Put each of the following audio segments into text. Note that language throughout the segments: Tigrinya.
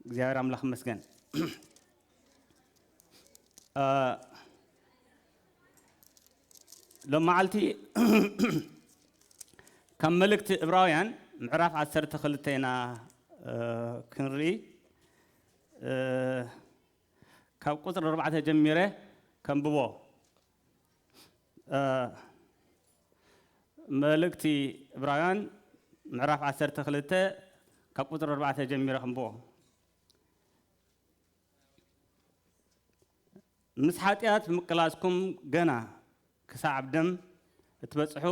እግዚኣብሔር ኣምላኽ ይመስገን ሎም መዓልቲ ካብ መልእክቲ እብራውያን ምዕራፍ 12 ኢና ክንርኢ ካብ ቁፅሪ ኣርባዕተ ጀሚረ ከንብቦ መልእክቲ ዕብራውያን ምዕራፍ ዓሰርተ ክልተ ካብ ቁፅሪ ኣርባዕተ ጀሚረ ክንብቦ ምስ ሓጢኣት ምቅላስኩም ገና ክሳዕ ኣብ ደም እትበፅሑ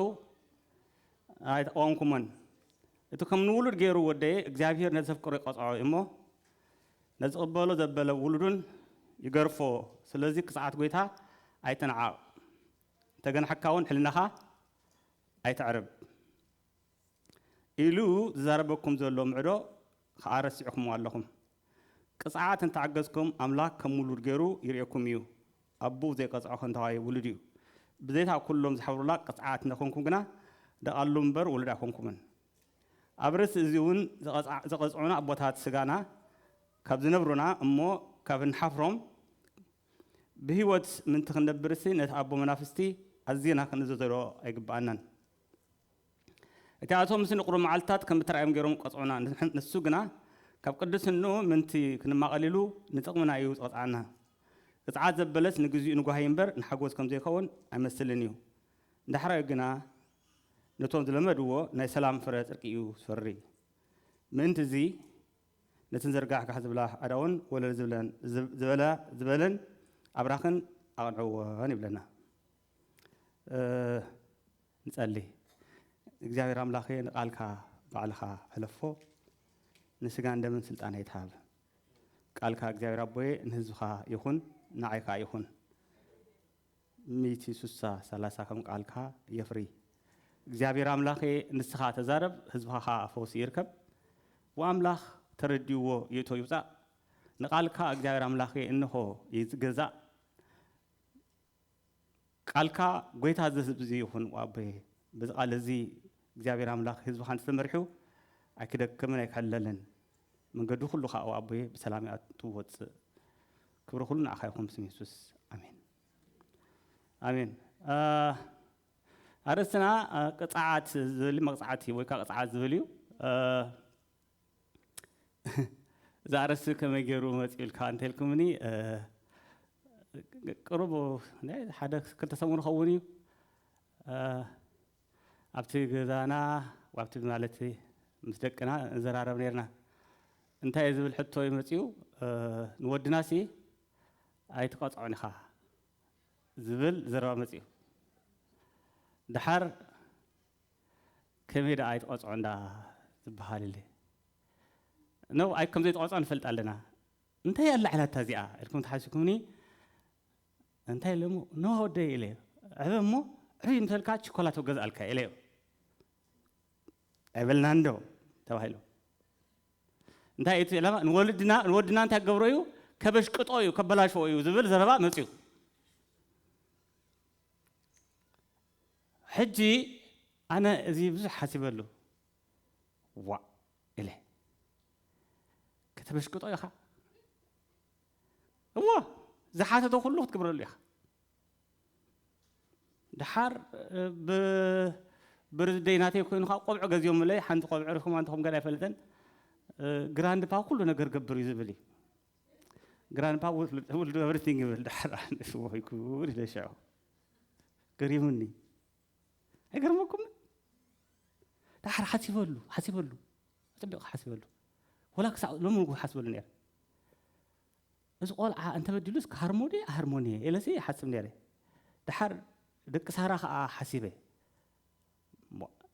ኣይተቃወምኩሞን እቲ ከም ንውሉድ ገይሩ ወደየ እግዚኣብሄር ነዘፍቅሮ ይቐፅዖ እዩ እሞ ነዚ ቅበሎ ዘበለ ውሉዱን ይገርፎ ስለዚ ክጽዓት ጎይታ ኣይትንዓቕ እንተገንሓካ ውን ሕልናኻ ኣይተዕርብ ኢሉ ዝዛረበኩም ዘሎ ምዕዶ ኸኣ ረሲዕኩምዎ ኣለኹም ቅጽዓት እንተዓገዝኩም ኣምላክ ከም ውሉድ ገሩ ይርእየኩም እዩ ኣቡኡ ዘይቀጽዖ ከንታዋይ ውሉድ እዩ ብዘይካ ኩሎም ዝሓብሩላ ቅጽዓት እንተኾንኩም ግና ደቓሉ እምበር ውሉድ ኣይኮንኩምን ኣብ ርእሲ እዚ እውን ዝቐጽዑና ኣቦታት ስጋና ካብ ዝነብሩና እሞ ካብ እንሓፍሮም ብህይወት ምእንቲ ክንነብርሲ ነቲ ኣቦ መናፍስቲ ኣዚና ክንእዘዘዶ ኣይግብኣናን። እቲኣቶምሲ ንቑሩብ መዓልትታት ከም እተራእዮም ገይሮም ክቐጽዑና ንሱ ግና ካብ ቅድስንኡ ምእንቲ ክንማቐል ኢሉ ንጥቕምና እዩ ዝቐጽዓና። ቅጽዓት ዘበለስ ንግዚኡ ንጓሂ እምበር ንሓጎስ ከም ዘይከውን ኣይመስልን እዩ። ዳሕራዩ ግና ነቶም ዝለመድዎ ናይ ሰላም ፍረ ጽርቂ እዩ ዝፈሪ። ምእንቲ እዚ ነቲ ንዘርጋሕጋሕ ዝብላ ኣእዳውን ወለል ዝብለን ዝበላ ዝበለን ኣብራኽን ኣቕንዕወን ይብለና። ንጸሊ። እግዚኣብሔር ኣምላኬ ንቃልካ ባዕልኻ ሕለፎ ንስጋን ደምን ስልጣን ኣይትሃብ። ቃልካ እግዚኣብሔር ኣቦየ ንህዝብኻ ይኹን ንዓይ ከኣ ይኹን። ሚእቲ ሱሳ ሰላሳ ከም ቃልካ የፍሪ እግዚኣብሔር ኣምላኬ ንስካ ተዛረብ ህዝብካ ካዓ ፈውሲ ይርከብ ወኣምላክ ተረዲእዎ ይእቶ ይውፃእ ንቃልካ እግዚኣብሔር ኣምላኬ እንኾ ይገዛእ ቃልካ ጎይታ እዚ ህዝቢ እዚ ይኹን ወኣቦየ በዚ ቃል እዚ እግዚኣብሔር ኣምላክ ህዝብካ እንተተመሪሑ ኣይክደክምን ኣይክሕለልን መንገዱ ኩሉ ካኣ ኣብ ኣቦየ ብሰላም ይኣቱ ወጽእ ክብሪ ኩሉ ንዓካ ይኩን ብስም የሱስ ኣሜን ኣሜን ኣርእስትና ቅጽዓት ዝብል መቅጽዓቲ ወይ ካኣ ቅጽዓት ዝብል እዩ እዛ ኣርእስቲ ከመይ ገይሩ መጽኡልካ እንተልኩምኒ ቅሩብ ሓደ ክልተ ሰሙን ኸውን እዩ ኣብቲ ገዛና ኣብቲ ማለት ምስ ደቅና ንዘራረብ ኔርና እንታይ እየ ዝብል ሕቶ እዩ መጺኡ ንወድናሲ ኣይትቀጽዖን ኢኻ ዝብል ዘረባ መጺኡ ደሓር ከመይ ደኣ ኣይትቀጽዖን ደኣ ዝበሃል ኢሊ ን ኣይ ከም ዘይትቀጽዖ ንፈልጥ ኣለና እንታይ ኣላዕላታ እዚኣ ኢልኩም ተሓሲብኩምኒ እንታይ ኢለ እሞ ን ወደይ ኢለ ዕበ እሞ ዕብይ ምስ በልካ ችኮላቶ ገዝኣልካ ኢለዮ ኣይበልናን ዶ ተባሂሉ እንታይ እቲ ዕላማ ንወልድና ንወድና እንታይ ገብሮ እዩ ከበሽቅጦ እዩ ከበላሽዎ እዩ ዝብል ዘረባ መፅዩ ሕጂ ኣነ እዚ ብዙሕ ሓሲበሉ ዋ ኢለ ከተበሽቅጦ ኢኻ እወ ዝሓተቶ ኩሉ ክትግብረሉ ኢኻ ድሓር ብርዝደይ ናተይ ኮይኑካ ቆብዕ ገዚኦምለይ ሓንቲ ቆብዕ ርኹማ እንትኹም ገና ኣይፈልጥን ግራንድፓ ኩሉ ነገር ገብር እዩ ዝብል እዩ ግራንድፓ ውልዱ ኤቭሪቲንግ ይብል ድሓር ኣነስ ወይኩን ኢለ ሽዑ ገሪሙኒ ኣይገርመኩምን ዳሓር ሓሲበሉ ሓሲበሉ ኣጸቢቑ ሓሲበሉ ወላ ክሳዕ ሎሚ ንጉ ሓስበሉ ነይረ እዚ ቆልዓ እንተበዲሉስ ክሃርሞ ድየ ኣሃርሞን እየ ኤለሲ ይሓስብ ነይረ ድሓር ደቂ ሳራ ከዓ ሓሲበ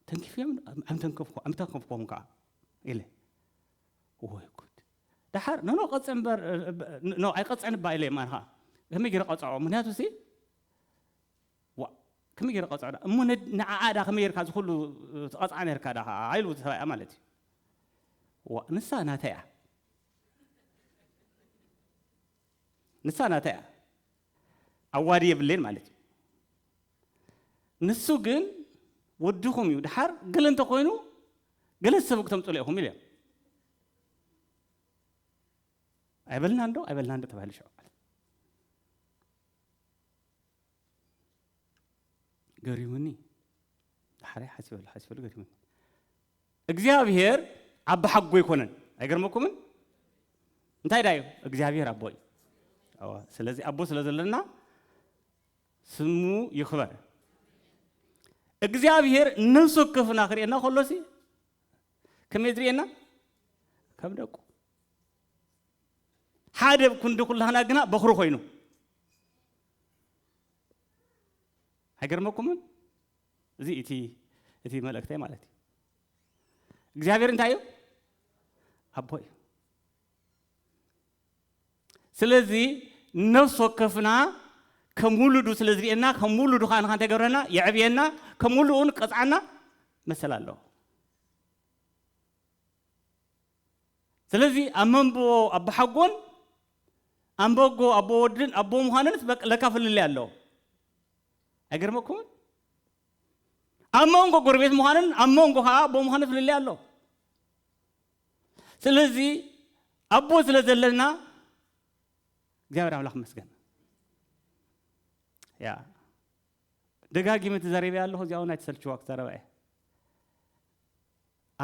ተንኪፍዮም ኣምተንከፍኩም ከዓ ኢለ ወይ ጉድ ድሓር ነኖ ቀፀ እምበር ኖ ኣይቀፀን እባ ኢለ እማ ከዓ ከመይ ገይረ ቀፅዖ ምክንያቱ ሲ ዋእ ከመይ ጌረ ክቐጽዖ ድኣ እሞ ንዓኣ ድኣ ከመይ ጌርካ እዚ ኩሉ ትቐጽዓ ኔርካ ድኣ ከኣ ኢሉ ሰብኣያ ማለት እዩ ዋእ ንሳ ናተይ እያ ንሳ ናተይ እያ ኣዋዲ የብለይን ማለት እዩ ንሱ ግን ወድኹም እዩ ድሓር ገለ እንተኮይኑ ገለ ዝሰቡ ክተምፅሉ ኢኹም ኢሉ እዮም ኣይበልናን ዶ ኣይበልናን ዶ ተባሂሉ ሽዑ ገሪሙኒ ዳሕራይ ሓሲበሉ ሓሲበሉ ገሪሙኒ እግዚኣብሔር ኣባ ሓጎ ኣይኮነን ኣይገርመኩምን እንታይ ዳዩ እግዚኣብሔር ኣቦ እዩ ስለዚ ኣቦ ስለ ዘለና ስሙ ይኽበር እግዚኣብሔር ነፍሱ ክፍና ክርእየና ከሎሲ ከመይ ዝርእየና ከም ደቁ ሓደ ብ ክንዲ ኩላህና ግና በኹሪ ኮይኑ። ኣይገርመኩምን? እዚ እቲ እቲ መልእክተይ ማለት እዩ። እግዚኣብሔር እንታይ እዩ? ኣቦ እዩ። ስለዚ ነፍሲ ወከፍና ከም ውሉዱ ስለ ዝርእየና ከም ውሉዱ ከዓ ንካ እንታይ ገብረና የዕብየና ከም ውልኡን ቀፅዓና መሰል ኣለዎ። ስለዚ ኣብ መንብቦ ኣቦሓጎን ኣንበጎ ኣቦ ወድን ኣቦ ምዃንንስ በቃ ለካ ፍልልይ ኣሎ። ኣይገርመኩምን? ኣብ መንጎ ጎረቤት ምዃንን ኣብ መንጎ ከዓ ኣቦ ምዃንን ፍልልይ ኣሎ። ስለዚ ኣቦ ስለ ዘለና እግዚኣብሔር ኣምላኽ መስገን ያ ደጋጊመ ተዛሪበ ኣለኹ እዚኣ እውን ኣይተሰልችዋ ክዛረባ እየ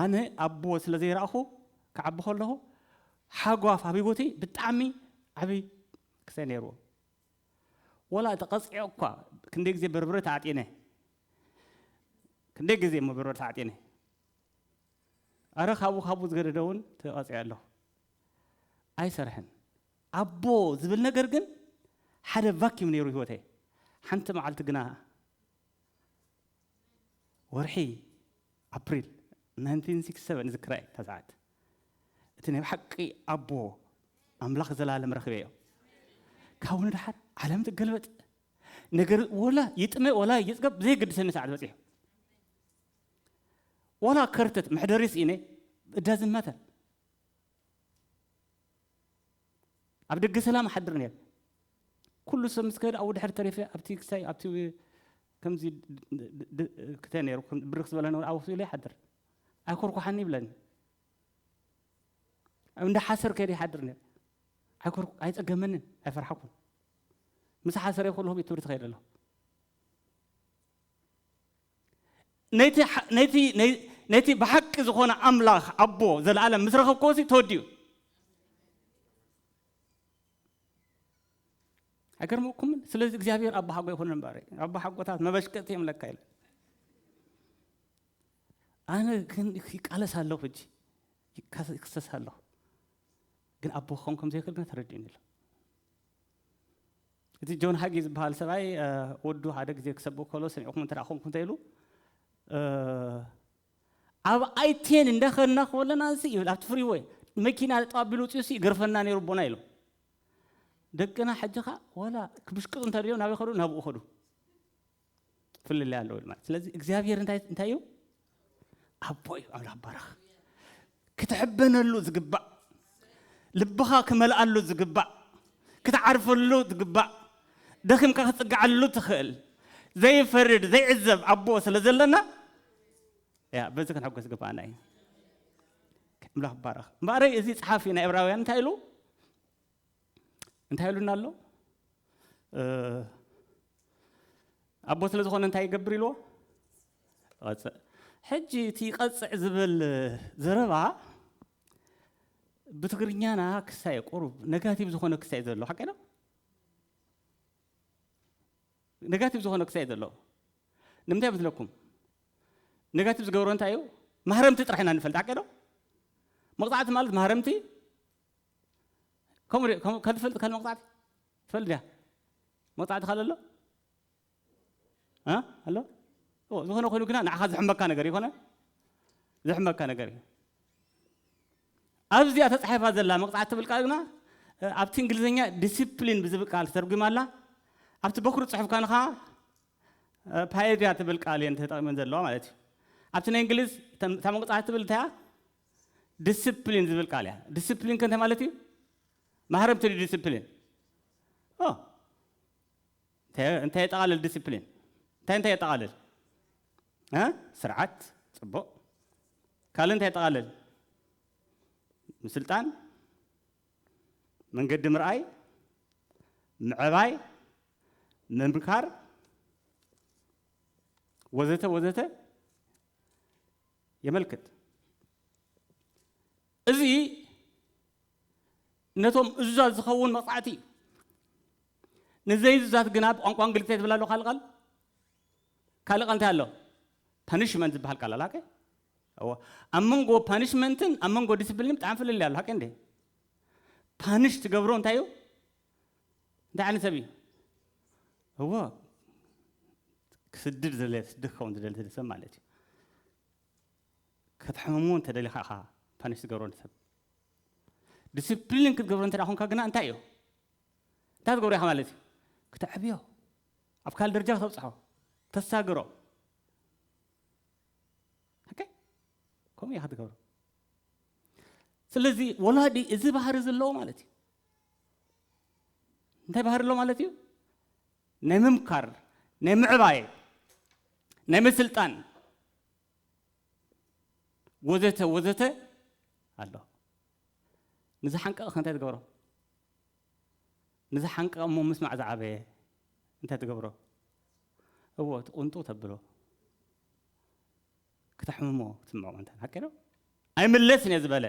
ኣነ ኣቦ ስለ ዘይረኣኹ ክዓቢ ከለኹ ሓጓፍ ኣብ ህይወቲ ብጣዕሚ ዓቢ ክሰ ነይርዎ ወላ ተቐጺዐ እኳ ክንደይ ግዜ በርብረ ተዓጢነ ክንደይ ግዜ እሞ በርበረ ተዓጢነ ኣረ ካብኡ ካብኡ ዝገደደ እውን ተቐጺዐ ኣለኹ ኣይሰርሕን ኣቦ ዝብል ነገር ግን ሓደ ቫኪም ነይሩ ህይወተይ ሓንቲ መዓልቲ ግና ወርሒ ኣፕሪል ናይንቲን ሲክስቲ ሰቨን እዝክራ እየ እታ ሰዓት እቲ ናይ ብሓቂ ኣቦ ኣምላኽ ዘላለም ረኺበዮ ካብኡ ንድሓር ዓለም ትገልበጥ ነገር ወላ ይጥመ ወላ ይፅገብ ዘይገድሰኒ ሰዓት በፂሑ ወላ ከርተት መሕደሪ ስኢነ እዳዝን ማተር ኣብ ደገ ሰላም ሓድር ነይር ኩሉ ሰብ ምስ ከደ ኣብኡ ድሕሪ ተሪፈ ኣብቲ ክሳይ ኣብቲ ከምዚ ድክተ ነይሩ ብርክ ዝበለ ነበረ ኣብ ውሽጡ ኢለ ይሓድር ኣይኮርኳሓኒ ይብለኒ እንዳ ሓሰር ከይደ ይሓድር ነይረ ኣይፀገመንን ኣይፈርሓኩን ምስ ሓሰረ ኩሉ ቤት ትምህርቲ ከይደ ኣለኹ ነቲ ብሓቂ ዝኾነ ኣምላኽ ኣቦ ዘለኣለም ምስ ረኸብክዎሲ ተወዲኡ ኣይገርመኩምን? ስለዚ እግዚኣብሔር ኣቦሓጎ ይኹን እምበረ ኣቦሓጎታት መበሽቀቲ እዮም ለካ ኢለ ኣነ ግን ይቃለስ ኣለኹ እጂ ይክሰስ ኣለኹ ግን ኣቦ ክኸውን ከም ዘይክእል ግን ተረዲኡኒ ኣሎ እቲ ጆን ሃጊ ዝበሃል ሰብኣይ ወዱ ሓደ ግዜ ክሰብእ ከሎ ሰሚዕኩም እንተ ኮንኩም እንተ ኢሉ ኣብ ኣይ ቴን እንዳኸድና ከለና ሲ ይብል ኣብቲ ፍሪወይ መኪና ጠጠው ኣቢሉ ወጺኡ ሲ ይገርፈና ነይሩ ኣቦና ኢሎም ደቅና ሕጂ ከኣ ወላ ክብሽቅጡ እንተደልዮም ናበይ ከዱ ናብኡ ከዱ ፍልልይ ኣለዎ ማለት ስለዚ እግዚኣብሄር እንታይ እንታይ እዩ ኣቦ እዩ ኣምላኽ ባረኽ ክትሕበነሉ ዝግባእ፣ ልብኻ ክመልኣሉ ዝግባእ፣ ክትዓርፈሉ ዝግባእ፣ ደኺምካ ክትጽግዓሉ ትኽእል፣ ዘይፈርድ ዘይዕዘብ ኣቦ ስለ ዘለና ያ በዚ ክንሕጎስ ዝግባኣና እዩ። ኣምላኽ ይባረኽ። እምበኣረይ እዚ ጸሓፊ ናይ ዕብራውያን እንታይ ኢሉ? እንታይ ኢሉና ኣሎ? ኣቦ ስለ ዝኾነ እንታይ ይገብር ኢልዎ? ይቐጽዕ። ሕጂ እቲ ይቐጽዕ ዝብል ዘረባ ብትግርኛና ክሳየ ቁሩብ ነጋቲቭ ዝኾነ ክሳየ ዘሎ ሓቀይ ዶ? ነጋቲቭ ዝኾነ ክሳየ ዘሎ ንምንታይ መስለኩም? ነጋቲቭ ዝገብሮ እንታይ እዩ? ማህረምቲ ጥራሕ ኢና ንፈልጥ ሓቀይ ዶ? መቕጻዕቲ ማለት ማህረምቲ ከምኡ ሪኦ ከምኡ ከትፈልጥ ከል መቕጻዕቲ ትፈልጥ ዲያ መቕጻዕቲ ካል ኣሎ ኣሎ ዝኾነ ኮይኑ ግና ንዓኻ ዝሕመካ ነገር ይኮነ ዝሕመካ ነገር እዩ ኣብዚኣ ተጻሒፋ ዘላ መቕጻዕቲ ትብል ቃል ግና ኣብቲ እንግሊዝኛ ዲስፕሊን ብዝብል ቃል ተተርጒማ ኣላ ኣብቲ በኩሪ ጽሑፍ ካንኻ ፓየድያ ትብል ቃል እየን ተጠቒመን ዘለዋ ማለት እዩ ኣብቲ ናይ እንግሊዝ እታ መቕጻዕቲ ትብል እንታያ ድስፕሊን ዝብል ቃል እያ ድስፕሊን ከንታይ ማለት እዩ ማህረምቲ ድዩ ድስፕሊን እንታይ የጠቓልል ድስፕሊን እንታይ እንታይ የጠቓልል ስርዓት ፅቡቕ ካልእ እንታይ የጠቓልል ምስልጣን መንገዲ ምርኣይ ምዕባይ ምምካር ወዘተ ወዘተ የመልክት። እዚ ነቶም እዙዛት ዝኸውን መቕጻዕቲ እዩ። ንዘይእዙዛት ግና ብቋንቋ እንግሊዝ እንታይ ትብል ኣሎ ካልእ ቃል ካልእ ቃል እንታይ ኣሎ ፓኒሽመንት ዝበሃል ቃል ኣላ ኦኬ እዎ ኣብ መንጎ ፓኒሽመንትን ኣብ መንጎ ዲስፕሊን ብጣዕሚ ፍልልይ ኣሎ ሓቂ እንዴ ፓኒሽ ትገብሮ እንታይ እዩ እንታይ ዓይነት ሰብ እዩ እዎ ክስድድ ዝደለ ስደት ክኸውን ዝደለ ዝደለ ሰብ ማለት እዩ ከተሕምሙ እንተደሊኻ ኢኻ ፓኒሽ ዝገብሮ ንሰብ ዲስፕሊን ክትገብሮ እንተ ኮንካ ግና እንታይ እዩ እንታይ ዝገብሮ ኢኻ ማለት እዩ ክተዕብዮ ኣብ ካልእ ደረጃ ክተብፅሖ ተሳግሮ ከምኡ ኢኻ ትገብሮ ስለዚ ወላዲ እዚ ባህሪ ዘለዎ ማለት እዩ እንታይ ባህሪ ኣሎ ማለት እዩ ናይ ምምካር ናይ ምዕባየ ናይ ምስልጣን ወዘተ ወዘተ ኣሎ ንዚ ሓንቀቕ እንታይ ትገብሮ ንዚ ሓንቀቕ እሞ ምስማዕ ዝዓበየ እንታይ ትገብሮ እዎ ትቕንጡ ተብሎ ክተሕምሞ ትስምዖ እንተ ሃቂዶ ኣይምለስን እየ ዝበለ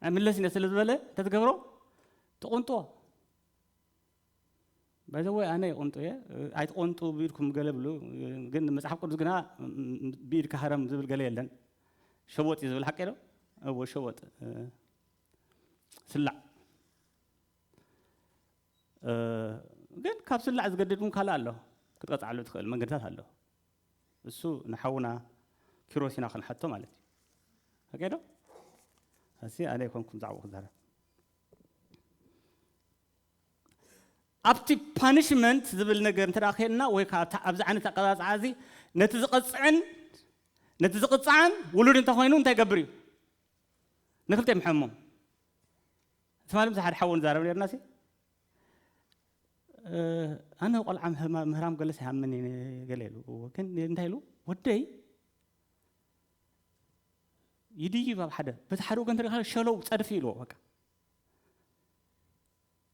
ናይ መለስ እነ ስለ ዝበለ እንተትገብሮ ትቑንጦ ባይዘወይ ኣነ ይቑንጡ እየ ኣይትቖንጡ ብኢድኩም ገለ ብሉ ግን መፅሓፍ ቅዱስ ግና ብኢድ ካህረም ዝብል ገለ የለን ሸወጥ እዩ ዝብል ሓቂ ዶ እዎ ሸወጥ ስላዕ ግን ካብ ስላዕ ዝገድድ እውን ካልእ ኣሎ ክትቀፅዓሉ ትኽእል መንገድታት ኣሎ እሱ ንሓውና ኪሮስ ኢና ክንሓቶ ማለት እዩ ኦኬ ዶ ኣሲ ኣነ ኣይኮንኩም ዛዕባኡ ክዛረብ ኣብቲ ፓኒሽመንት ዝብል ነገር እንተ ከየልና ወይ ከዓ ኣብዚ ዓይነት ኣቀፃፅዓ እዚ ነቲ ዝቐፅዕን ነቲ ዝቕፅዓን ውሉድ እንተኮይኑ እንታይ ገብር እዩ ንክልተ ይምሐሞም ትማሊ ምስ ሓደ ሓው ንዛረብ ነርና ሲ ኣነ ቆልዓ ምህራም ገለስ ይሃምን ገለ ኢሉ ግን እንታይ ኢሉ ወደይ ይድይብ ኣብ ሓደ በቲ ሓደ ወገን ተሪኻ ሸለው ፀድፊ ኢልዎ በቃ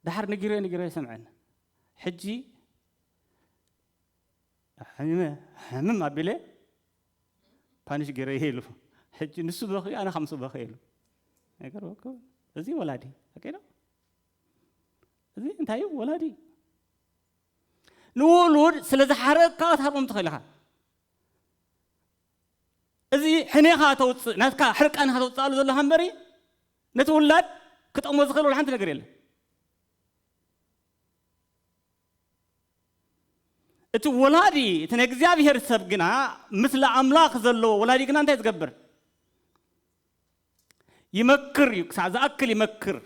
ድሓር ንጊረ ንጊረ ይሰምዐን ሕጂ ሕምም ኣቢለ ፓኒሽ ገይረ ይሄ ኢሉ ሕጂ ንሱ በኺ ኣነ ከምሱ በኺ ኢሉ ነገር እዚ ወላዲ ኣቀዶ እዚ እንታይ እዩ ወላዲ እዩ ንውሉድ ስለ ዝሓረቕካ ክትሃቦም ትኽእል ኢኻ እዚ ሕኔኻ ተውፅእ ናትካ ሕርቃን ኢኻ ተውፅኣሉ ዘለኻ እምበሪ ነቲ ውላድ ክጠቕሞ ዝኽእል ወላ ሓንቲ ነገር የለን እቲ ወላዲ እቲ ናይ እግዚኣብሄር ሰብ ግና ምስሊ ኣምላኽ ዘለዎ ወላዲ ግና እንታይ ዝገብር ይመክር እዩ ክሳዕ ዝኣክል ይመክር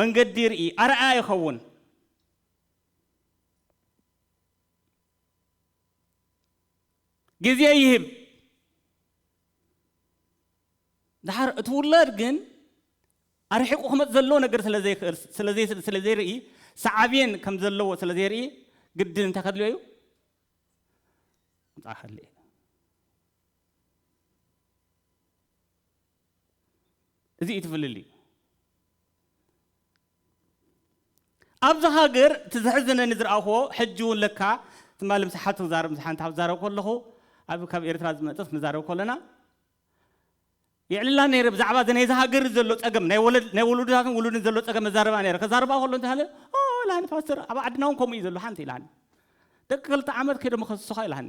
መንገዲ ይርኢ ኣርኣያ ይኸውን ግዜ ይህብ ድሓር እቲ ውላድ ግን ኣርሒቑ ክመፅ ዘለዎ ነገር ስለዘይርኢ ሰዓብን ከም ዘለዎ ስለዘይርኢ ግድን እንታይ ከድልዮ እዩ ምፃ ከድልዮ እዩ እዚ እዩ እቲ ፍልልይ። ኣብዚ ሃገር እቲ ዘሕዝነኒ ዝረኣኹዎ ሕጂ እውን ለካ ትማሊ ምስ ሓንቲ ክዛረብ ምስ ሓንቲ ክዛረብ ከለኹ ኣብ ካብ ኤርትራ ዝመጸት ክንዛረብ ከለና የዕልላ ነይረ ብዛዕባ እዚ ናይዚ ሃገር ዘሎ ጸገም ናይ ወለድ ናይ ወለዶታትን ውሉድን ዘሎ ጸገም መዛረባ ነይረ ከዛረባ ከሎ እንታይ ሃለ ኦ ኢላኒ ፓስተር ኣብ ዓድና እውን ከምኡ እዩ ዘሎ ሓንቲ ኢላኒ ደቂ ክልተ ዓመት ከይዶም ከስሱኻ ኢላኒ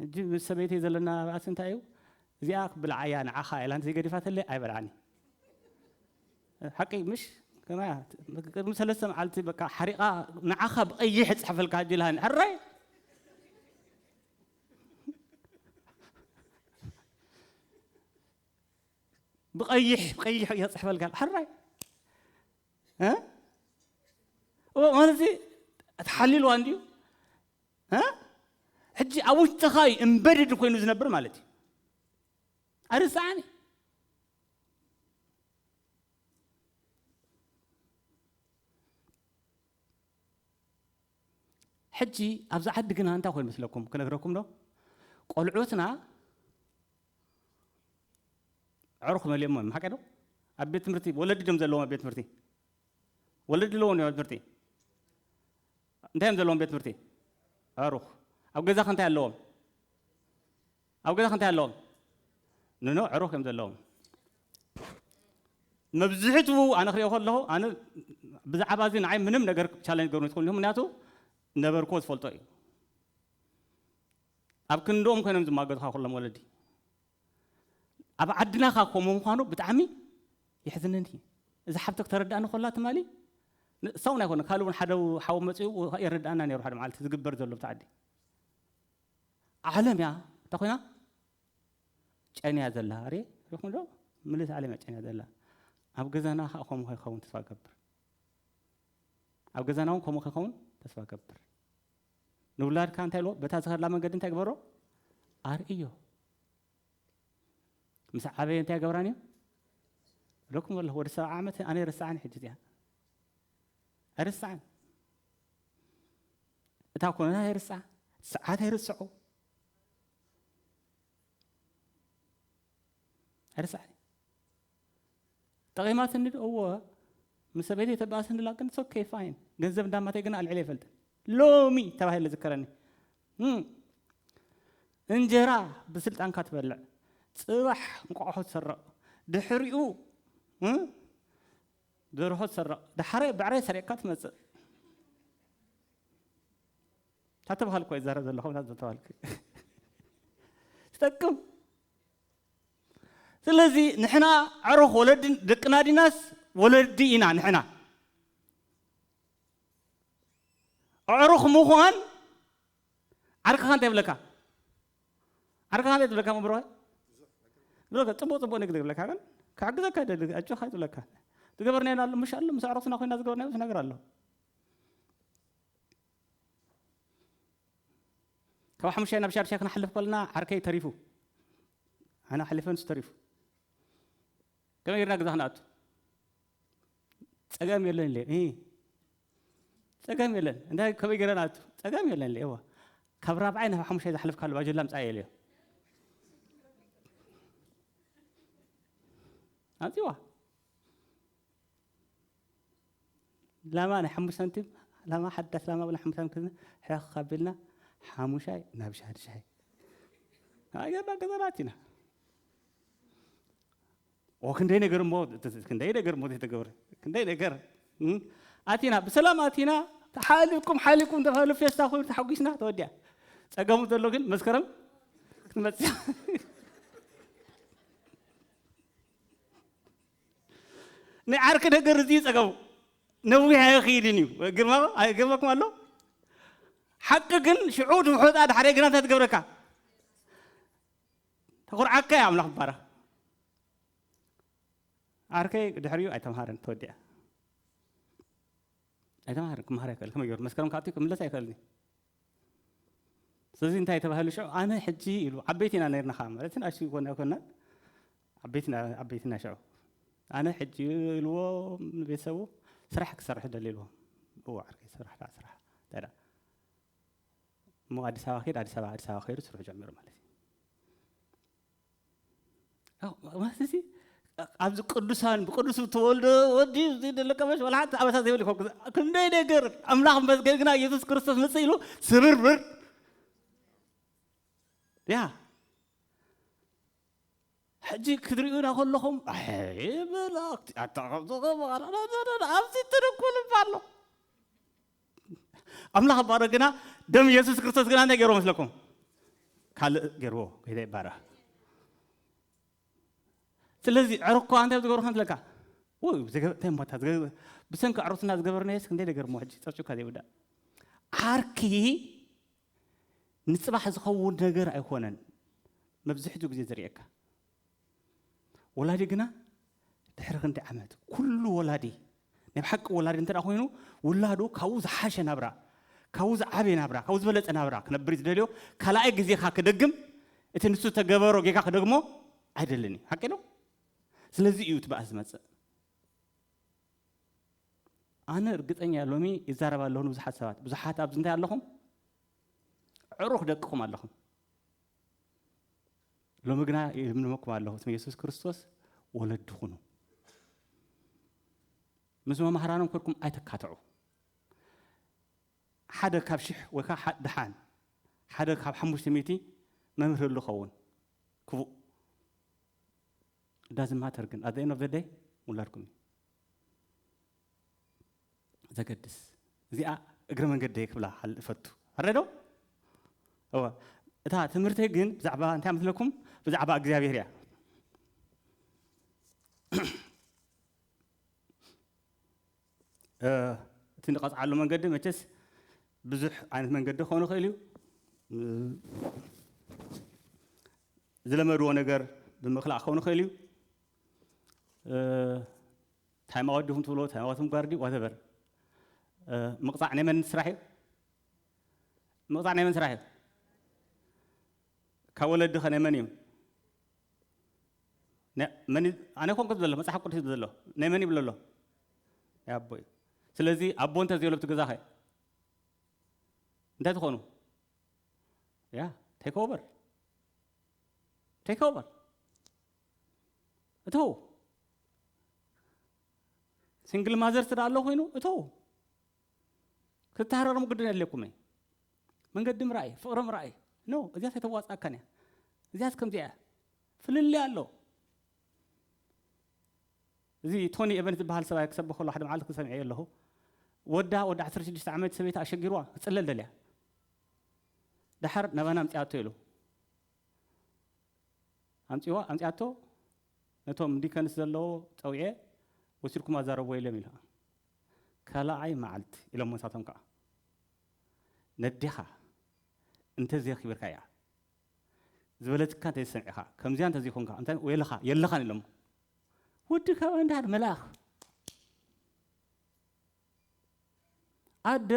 ሕጂ ምስ ሰበይተይ ዘለና ባእሲ እንታይ እዩ እዚኣ ክትብልዓ እያ ንዓኻ ኢላ እንተዘይገዲፋተለይ ኣይበልዓን እየ ሓቂ ምሽ ከመይ እያ ቅድሚ ሰለስተ መዓልቲ በቃ ሓሪቓ ንዓኻ ብቐይሕ እፅሕፈልካ ሕጂ ኢልሃኒ ሕራይ ብቀይሕ ቀይሕ እየ ፅሕፈልካ ሕራይ እ ማለት ተሓሊልዋ እንድዩ ሕጂ ኣብ ውሽጥኻ እዩ እምበድድ ኮይኑ ዝነብር ማለት እዩ ኣርስዓኒ ሕጂ ኣብዚ ዓዲ ግና እንታይ ኮይኑ መስለኩም ክነግረኩም ዶ ቆልዑትና ዕሩኽ መሊኦሞ እዮም ሓቂ ዶ ኣብ ቤት ትምህርቲ ወለዲ ድም ዘለዎም ኣብ ቤት ትምህርቲ ወለዲ ኣለዎም ኣብ ቤት ትምህርቲ እንታይ እዮም ዘለዎም ቤት ትምህርቲ ዕሩኽ ኣብ ገዛኸ እንታይ ኣለዎም ኣብ ገዛኸ እንታይ ኣለዎም ንኖ ዕሩኽ እዮም ዘለዎም መብዝሕትኡ ኣነ ክሪኦ ከለኹ ኣነ ብዛዕባ እዚ ንዓይ ምንም ነገር ቻለንጅ ገሩ ይትኽእሉ ምክንያቱ ነበርክዎ ዝፈልጦ እዩ ኣብ ክንድኦም ኮይኖም ዝማገዙኻ ኩሎም ወለዲ ኣብ ዓድና ከኣ ከምኡ ምዃኑ ብጣዕሚ የሕዝነኒ። እዛ ሓብቲ ክተረድኣኒ ከላ ትማሊ ንሳ እውን ኣይኮነን ካልእ እውን ሓደ ሓው መጺኡ የረድኣና ነይሩ ሓደ መዓልቲ ዝግበር ዘሎ ኣብቲ ዓዲ ዓለም እያ እንታይ ኮይና ጨንያ ዘላ ሬ ሪኹም ዶ ምልእቲ ዓለም እያ ጨንያ ዘላ ኣብ ገዛና ከዓ ከምኡ ከይኸውን ተስፋ ገብር ኣብ ገዛና እውን ከምኡ ከይኸውን ተስፋ ገብር ንውላድካ እንታይ በሎ፣ በታ ዝኸደላ መንገዲ እንታይ ግበሮ፣ ኣርእዮ። ምስ ዓበየ እንታይ ገብራን እዩ ለኩም ኣለኹ ወደ ሰብዓ ዓመት ኣነ ኣይርስዓን ሕጂ እዚኣ ኣይርስዓን እታ ኮነታ ኣይርስዓ ሰዓት ኣይርስዑ ኣይርስዓን ጠቂማትኒ ዶ እወ ምስ ሰበይተይ ተባእስንላ ግን ሶ ኬ ፋይን ገንዘብ እንዳ ኣማተይ ግና ኣልዒለ ኣይፈልጥን ሎሚ ተባሂለ ዝከረኒ እም እንጀራ ብስልጣንካ ትበልዕ ጽባሕ እንቋቑሖ ትስረቕ ድሕሪኡ እም ደርሆ ትስረቕ ዳሕራይ ብዕራይ ሰሪቕካ ትመጽእ እታ ተባሃልኩ ኣይዛረብ ዘለኹ እታ ተባሃልኩ ትጠቅም ስለዚ ንሕና ኣዕሩኽ ወለዲ ደቅና ዲናስ ወለዲ ኢና ንሕና ኣዕሩኽ ምዃን ዓርክኻ እንታይ ይብለካ ዓርክኻ እንታይ ትብለካ መብርሃ ብለካ ፅቡቅ ፅቡቅ ንግዲ ብለካ ግን ክሕግዘካ ደሊ ኣጆካ ይብለካ ዝገበርናዮ ኣሎ ምሽ ኣሎ ምስ ኣዕሩኽትና ኮይና ዝገበርናዮ ብዙሕ ነገር ኣሎ ካብ ሓሙሻይ ናብ ሻድሻይ ክንሓልፍ ከለና ዓርከይ ተሪፉ ኣነ ሓሊፈ ንሱ ተሪፉ ከመይ ጌርና ገዛ ክንኣቱ ጸገም የለን ኢለ ጸገም የለን እንታይ ከመይ ጌረ ንኣቱ ጸገም የለን ኢለ እዋ ካብ ራብዓይ ናብ ሓሙሻይ ዝሓለፍካሉ ባጀላ ምጻእ የልዮ ኣንጺዋ ላማ ናይ ሓሙሽተ ሳንቲም ላማ ሓዳስ ላማ ብላ ሓሙሽተ ሳንቲም ክዝና ሕኽ ካቢልና ሓሙሻይ ናብ ሻድሻይ ኣገርና ገዛናት ኢና ክንደይ ነገር እሞ ክንደይ ነገር እሞ ዘይተገብረ ክንደይ ነገር ኣቲና ብሰላም ኣቲና ሓሊኩም ሓሊኩም ተባህሉ ፌስታ ኮይኑ ተሓጒስና ተወዲያ ፀገሙ ዘሎ ግን መስከረም ክትመፅእ ናይ ዓርኪ ነገር እዚ ጸገሙ ነዊሕ ኣይኽኢልን እዩ ግርማ ኣይገርመኩም ኣሎ ሓቂ ግን ሽዑ ድውሑጣ ድሓደ ግና እንታይ ትገብረካ ተኹርዓካ እያ ኣምላኽ ባራ ዓርከይ ድሕሪኡ ኣይተምሃረን ተወዲኣ ኣይተምሃረን ክምሃር ኣይክእል ከመይ ገይሩ መስከረም ካብቲ ክምለስ ኣይክእልኒ ስለዚ እንታይ ተባሂሉ ሽዑ ኣነ ሕጂ ኢሉ ዓበይቲ ኢና ነርና ከዓ ማለት ንኣሽ ኮና ኮና ዓበይትና ሽዑ ኣነ ሕጂ ኢልዎ ንቤተሰቡ ስራሕ ክሰርሕ ደሊ ኢልዎ እዎ ዓርከይ ስራሕ ደኣ ስራሕ እንታይ ደኣ እሞ ኣዲስ ኣበባ ከይድ ኣዲስ ኣበባ ኣዲስ ኣበባ ከይዱ ስርሑ ጀሚሩ ማለት እዩ ማለት እዚ ኣብዚ ቅዱሳን ብቅዱስ ተወልደ ወዲ ደለቀመሽ ወላ ሓንቲ ኣበሳ ዘይብል ይኮ ክንደይ ነገር ኣምላኽ መስገን ግና ኢየሱስ ክርስቶስ ምጽእ ኢሉ ስብርብር ያ ሕጂ ክትርእዩና ከለኹም ኣይ መላእክቲ ኣታ ከምዚ ከምዚ ኣብዚ ትድኩል እባ ኣሎ ኣምላኽ ባሮ ግና ደም ኢየሱስ ክርስቶስ ግና እንታይ ገይርዎ መስለኩም ካልእ ገይርዎ ጌታ ይባረኽ ስለዚ ዕርኳ እንታይ ኣብ ዝገብርካ እንትለካ ውይ እንታይ እምባታ ብሰንኪ ዕሩትና ዝገበርናየስ ክንደይ ነገር እሞ ሕጂ ጨርጭካ ዘይውዳእ ዓርኪ ንጽባሕ ዝኸውን ነገር ኣይኮነን መብዝሕትኡ ግዜ ዝርእየካ። ወላዲ ግና ድሕሪ ክንደይ ዓመት፣ ኩሉ ወላዲ ናይ ብሓቂ ወላዲ እንተ ኮይኑ ውላዱ ካብኡ ዝሓሸ ናብራ፣ ካብኡ ዝዓበየ ናብራ፣ ካብኡ ዝበለጸ ናብራ ክነብር እዩ ዝደልዮ። ካልኣይ ግዜኻ ክደግም እቲ ንሱ ዝተገበሮ ጌጋ ክደግሞ ኣይደልን እዩ። ሓቂ ዶ? ስለዚ እዩ እቲ ባእሲ ዝመጽእ። ኣነ እርግጠኛ ሎሚ ይዛረብ ኣለኹ ንብዙሓት ሰባት ብዙሓት ኣብዚ እንታይ ኣለኹም ዕሩኽ ደቅኹም ኣለኹም ሎሚ ግና ይልምልመኩም ኣለኹ ስም የሱስ ክርስቶስ ወለዲ ኩኑ ምስ መማህራኖም ኮድኩም ኣይተካትዑ ሓደ ካብ ሽሕ ወይ ከዓ ድሓን ሓደ ካብ ሓሙሽተ ሚእቲ መምህር ዝኸውን ክፉእ it doesn't matter ግን at the end of the day ውላድኩም እዩ ዘገድስ እዚኣ እግረ መንገዲ ክብላ ሓል እፈቱ ኣረዶ እወ እታ ትምህርቲ ግን ብዛዕባ እንታይ መስለኩም ብዛዕባ እግዚኣብሔር እያ እ፣ እቲ ንቐፅዓሉ መንገዲ መቸስ ብዙሕ ዓይነት መንገዲ ክኸውን ይኽእል እዩ እ፣ ዝለመድዎ ነገር ብምክላእ ክኸውን ይኽእል እዩ። ታይም ኣውት ዲኹም ትብልዎ፣ ታይም ኣውት ምግባር ድዩ ዋተቨር። ምቕፃዕ ናይ መን ስራሕ እዩ? ምቕፃዕ ናይ መን ስራሕ እዩ? ካብ ወለዲ ኸ ናይ መን እዩ? ኣነ ኮንኩ ዘሎ መፅሓፍ ቅዱስ እዩ ዘሎ ናይ መን ይብሎ ኣሎ? ናይ ኣቦ እዩ። ስለዚ ኣቦ እንተዘይብሎ ኣብቲ ገዛ ኸ እንታይ ትኾኑ? ያ ቴክ ኦቨር ቴክ ኦቨር እተው ሲንግል ማዘር ትዳ ኣሎ ኮይኑ እተው ክትተሃረርሙ ግድን የድልየኩም እዩ መንገዲ ምርኣይ ፍቕሪ ምርኣይ ኖ እዚያስ የተዋፅኣካን እያ እዚያስ ከምዚኣ እያ ፍልልይ ኣሎ እዚ ቶኒ ኤቨንስ ዝብሃል ሰብኣይ ክሰብኽ ከሎ ሓደ መዓልቲ ሰሚዐዮ ኣለኹ። ወዳ ወዲ ዓሰርተ ሽዱሽተ ዓመት ሰበይቲ ኣሸጊርዋ ክትጽለል ደልያ ደሓር ናባና ኣምጽኣቶ ኢሉ ኣምጽዋ ኣምጽኣቶ ነቶም ዲከንስ ዘለዎ ጸዊዐ ወሲድኩም ኣዛረብዎ ኢሎም ኢላ ካልኣይ መዓልቲ ኢሎሞ ንሳቶም ከኣ ነዴኻ እንተዘየኺብርካያ ዝበለትካ እንተ ሰሚዕካ ከምዚኣ እንተ ዘይኮንካ እንታይ ወይለኻ የለኻን ኢሎሞ ወዲ ካብ እንድሃር መልኣኽ ኣደ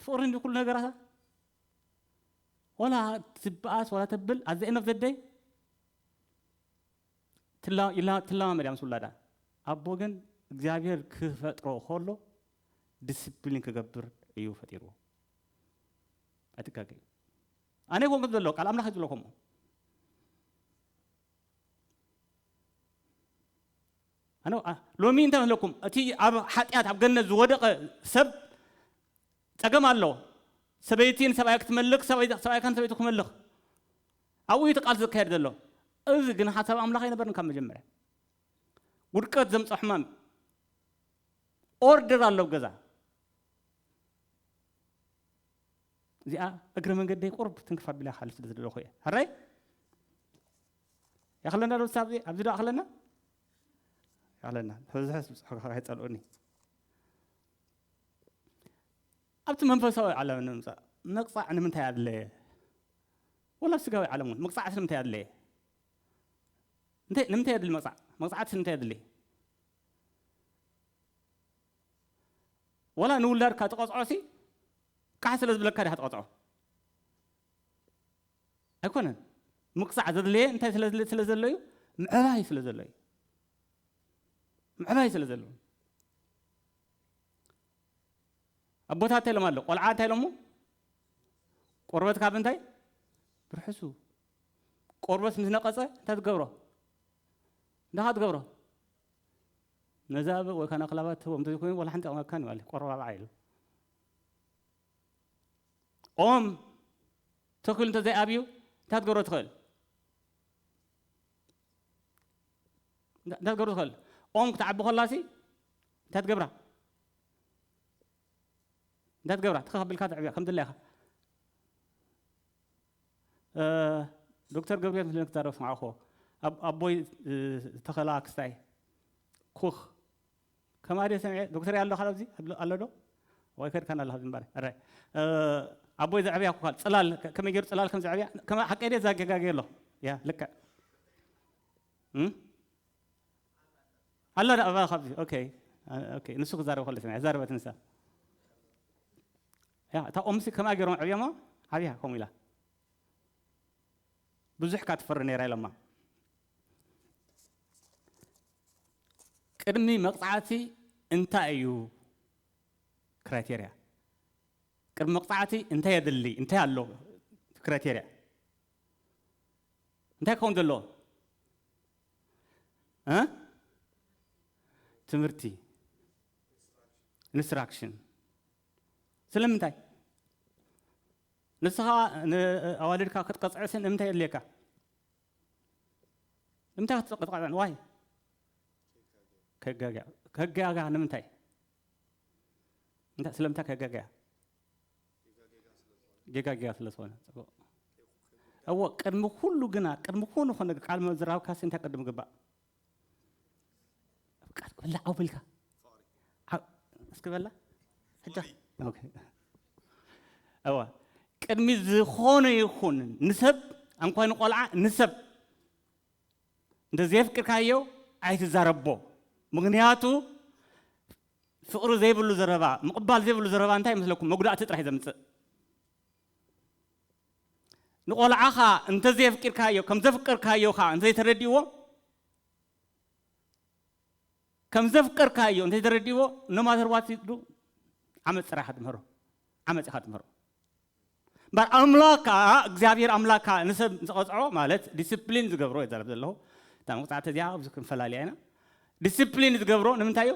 ፍቕሪ እንዲ ኩሉ ነገራታ ወላ ትበኣስ ወላ ተብል ኣዘ ኤንድ ኦፍ ዘ ደይ ትለማመድ እያ ምስ ውላዳ ኣቦ ግን እግዚኣብሔር ክፈጥሮ ከሎ ዲስፕሊን ክገብር እዩ ፈጢርዎ ኣይትጋገዩ ኣነ ይኮን ክብል ዘሎ ቃል ኣምላኽ እዩ ዝብሎ ከምኡ ሎሚ እንታይ ኣለኩም እቲ ኣብ ሓጢኣት ኣብ ገነት ዝወደቐ ሰብ ፀገም ኣሎ ሰበይቲ ንሰብኣያ ክትመልኽ ሰብኣይካ ንሰበይቱ ክመልኽ ኣብኡ እዩ ቃልሲ ዝካየድ ዘሎ እዚ ግን ሓሳብ ኣምላኽ ኣይነበርን ካብ መጀመርያ ውድቀት ዘምፀ ሕማም ኦርደር ኣሎ ገዛ እዚኣ እግረ መንገደይ ቁሩብ ትንክፍ ኣቢለ ክሓልፍ ስለ ዝደለኹ እየ። ሕራይ የኽለና ዶ ሳብ ኣብዚ ዶ ኣኽለና የኽለና ሕዝሕዝ ብፅሑ ከይፀልኡኒ ኣብቲ መንፈሳዊ ዓለም ንምፃእ ምቕፃዕ ንምንታይ ኣድለየ? ወላ ኣብ ስጋዊ ዓለም እውን ምቕፃዕ ስለምንታይ ኣድለየ? እንታይ ንምንታይ የድሊ መቕፃዕ መቕፃዕቲ ስለምንታይ የድሊ ወላ ንውላድካ ትቐፅዖ ሲ ቃሕ ስለ ዝብለካ ዲኻ ትቐጽዖ? ኣይኮነን። ምቕጻዕ ዘድለየ እንታይ ስለ ዘሎ እዩ? ምዕባይ ስለ ዘሎ እዩ። ምዕባይ ስለ ዘሎ ኣቦታት እንታይ ኢሎም ኣሎ ቆልዓ እንታይ ኢሎሞ ቆርበት ካብ እንታይ ብርሕሱ ቆርበት ምስ ነቐፀ እንታይ ትገብሮ እንዳኻ ትገብሮ ነዛ ወይ ካና ክላባት ትህቦም እንተዘይኮይኑ ዋላ ሓንቲ ኣቕማካን ማለት ቆረባብዓ ኢሉ ኦም ተኪሉ እንተዘይ ኣብዩ እንታይ ክትገብሮ ትኽእል? እንታይ ክትገብሮ ትኽእል? ኦም ክትዓቢ ከላሲ እንታይ ትገብራ? እንታይ ትገብራ? ትኽ ኣቢልካ ተዕብያ ከም ድላይካ። ዶክተር ገብርኤል ምስለ ክዛረብ ስምዓኹዎ ኣቦይ ተኸላ ክስታይ ኩኽ ከምኣ ድየ ሰሚዐ ዶክተር ኣሎ ካል ኣብዚ ኣሎ ዶ ወይ ከድካ ናላ ኣብዚ ምባረ እረ ኣቦይ ዘዕብያ ኩካል ጽላል ከመይ ገይሩ ጽላል ከም ዘዕብያ ከም ሓቀይ ድየ ዛገጋገየ ኣሎ ያ ልክዕ ኣሎ ዳ ኣባ ካብዚ ኦኬ ኦኬ ንሱ ክዛረብ ከሎ ሰሚዐ ዛረበት ንሳ ያ እታ ኦምሲ ከምኣ ገይሮም ዕብዮሞ ዓብያ ከምኡ ኢላ ብዙሕ ካ ትፈሪ ነይራ ኢሎማ ቅድሚ መቅጻዕቲ እንታይ እዩ ክራይቴርያ ቅድሚ መቅጻዕቲ እንታይ የድሊ እንታይ ኣሎ ክራይቴርያ እንታይ ክኸውን ዘሎ ትምህርቲ ኢንስትራክሽን ስለምንታይ ንስኻ ንኣዋልድካ ክትቀፅዕስን እንታይ የድልየካ ንምንታይ ክትፅቕጥቐዐን ዋይ ከጋግያ ከጋጋ ንምንታይ እንታይ ስለምንታይ ከጋግያ ጌጋ ጌጋ ስለ ዝኾነ ፅቡቅ እዎ ቅድሚ ኩሉ ግና ቅድሚ ኩሉ ኮነ ቃል ምዝራብካሲ እንታይ ቅድም ግባእ ቃል ክብላ ዓው ብልካ ዓው እስኪ በላ ሕጃ ኦኬ እወ ቅድሚ ዝኾነ ይኹን ንሰብ እንኳ ንቆልዓ ንሰብ እንተዘየፍቅርካዮ ኣይትዛረቦ ምክንያቱ ፍቅሪ ዘይብሉ ዘረባ ምቕባል ዘይብሉ ዘረባ እንታይ ይመስለኩም መጉዳእቲ ጥራሕ እዩ ዘምፅእ ንቆልዓኻ እንተዘየፍቂርካዮ ከምዘፍቀርካዮ ከኣ እንተዘይተረዲእዎ ከምዘፍቀርካዮ እንተዘይተረዲእዎ no matter what you do ዓመጽ ጥራይ ኢኻ ትምህሮ ዓመጽ ኢኻ ትምህሮ እምበር ኣምላኽ ከኣ እግዚኣብሔር ኣምላኽ ከኣ ንሰብ ዝቐጽዖ ማለት ዲስፕሊን ዝገብሮ ይዛረብ ዘለኹ እታ መቕጻዕቲ እዚኣ ኣብዚ ክንፈላለያ ኢና ዲስፕሊን ዝገብሮ ንምንታይ እዩ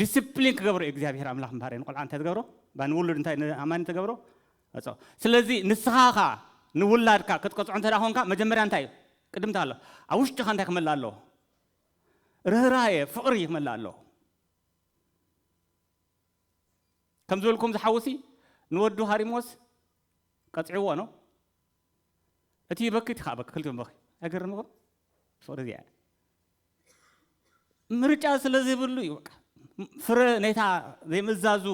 ዲስፕሊን ክገብሮ እዩ እግዚኣብሔር ኣምላኽ ምባር ንቆልዓ እንታይ ትገብሮ ባ ንውሉድ እንታይ ንኣማኒ ተገብሮ እፀ ስለዚ ንስኻ ኸዓ ንውላድካ ክትቀፅዖ እንተ ኮንካ መጀመርያ እንታይ እዩ ቅድምታ ኣሎ ኣብ ውሽጥኻ እንታይ ክመልእ ኣለዎ ርህራየ ፍቕሪ ክመልእ ኣለዎ ከም ዝበልኩም ዝሓውሲ ንወዱ ሃሪሞስ ቀፅዕዎ ነው እቲ በኪ እቲ ከዓ በኪ ክልቲኦም በኪ ኣይገርምኹም ፍቕሪ እዚኣ ምርጫ ስለ ዘይብሉ እዩ በቃ ፍረ ነታ ዘይምዛዙ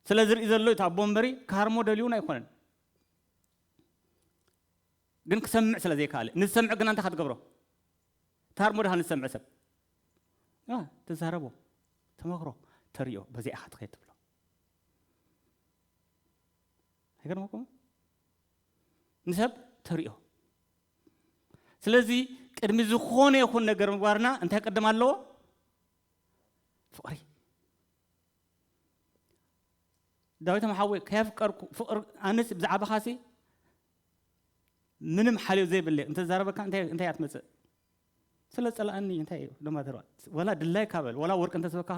ስለ ዝርኢ ዘሎ እዩ ኣቦ እምበሪ ካርሞ ደልዩን ኣይኮነን ግን ክሰምዕ ስለ ዘይከኣለ ንዝሰምዕ ግና እንታይ ክትገብሮ ታርሞ ድኻ ንዝሰምዕ ሰብ ትዛረቦ ተመክሮ ተሪኦ በዚኣ ኢኻ ትኸይድ ትብሎ ኣይገርመኩም ንሰብ ተሪኦ ስለዚ ቅድሚ ዝኾነ ይኹን ነገር ምግባርና እንታይ ቅድም ኣለዎ? ፍቕሪ ዳዊት መሓወይ ከየፍቀርኩ ፍቕሪ ኣነስ ብዛዕባኻሲ ምንም ሓልዮ ዘይብለ እንተዛረበካ እንታይ እንታይ ኣትመፅእ ስለ ፀላእኒ እንታይ እዩ ደማ ተርባ ወላ ድላይ ካበል ወላ ወርቂ እንተስበካ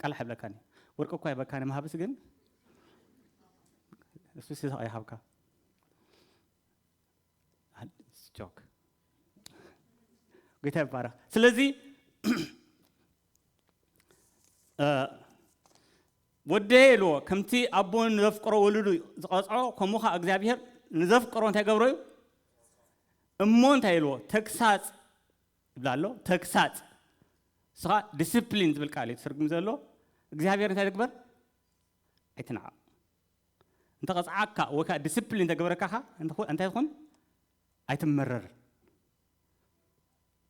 ቃልሕ ኣይብለካን እዩ ወርቂ እኳ ይህበካ ንምሃብስ ግን እሱ ሲሳቅ ይሃብካ ጆክ ጌታ ይባረክ ስለዚ ወደየ ኢልዎ ከምቲ ኣቦ ንዘፍቅሮ ወልዱ ዝቐፅዖ ከምኡ ከዓ እግዚኣብሄር ንዘፍቅሮ እንታይ ገብሮ እዩ እሞ እንታይ ኢልዎ ተግሳፅ ይብላ ኣሎ ተግሳጽ ንስኻ ድስፕሊን ዝብል ቃል እዩ ትትርጉም ዘሎ እግዚኣብሔር እንታይ ድግበር ኣይትንዓቕ እንተ ቐጽዓካ ወይ ከዓ ድስፕሊን ተግበረካኻ እንታይ ትኹን ኣይትመረር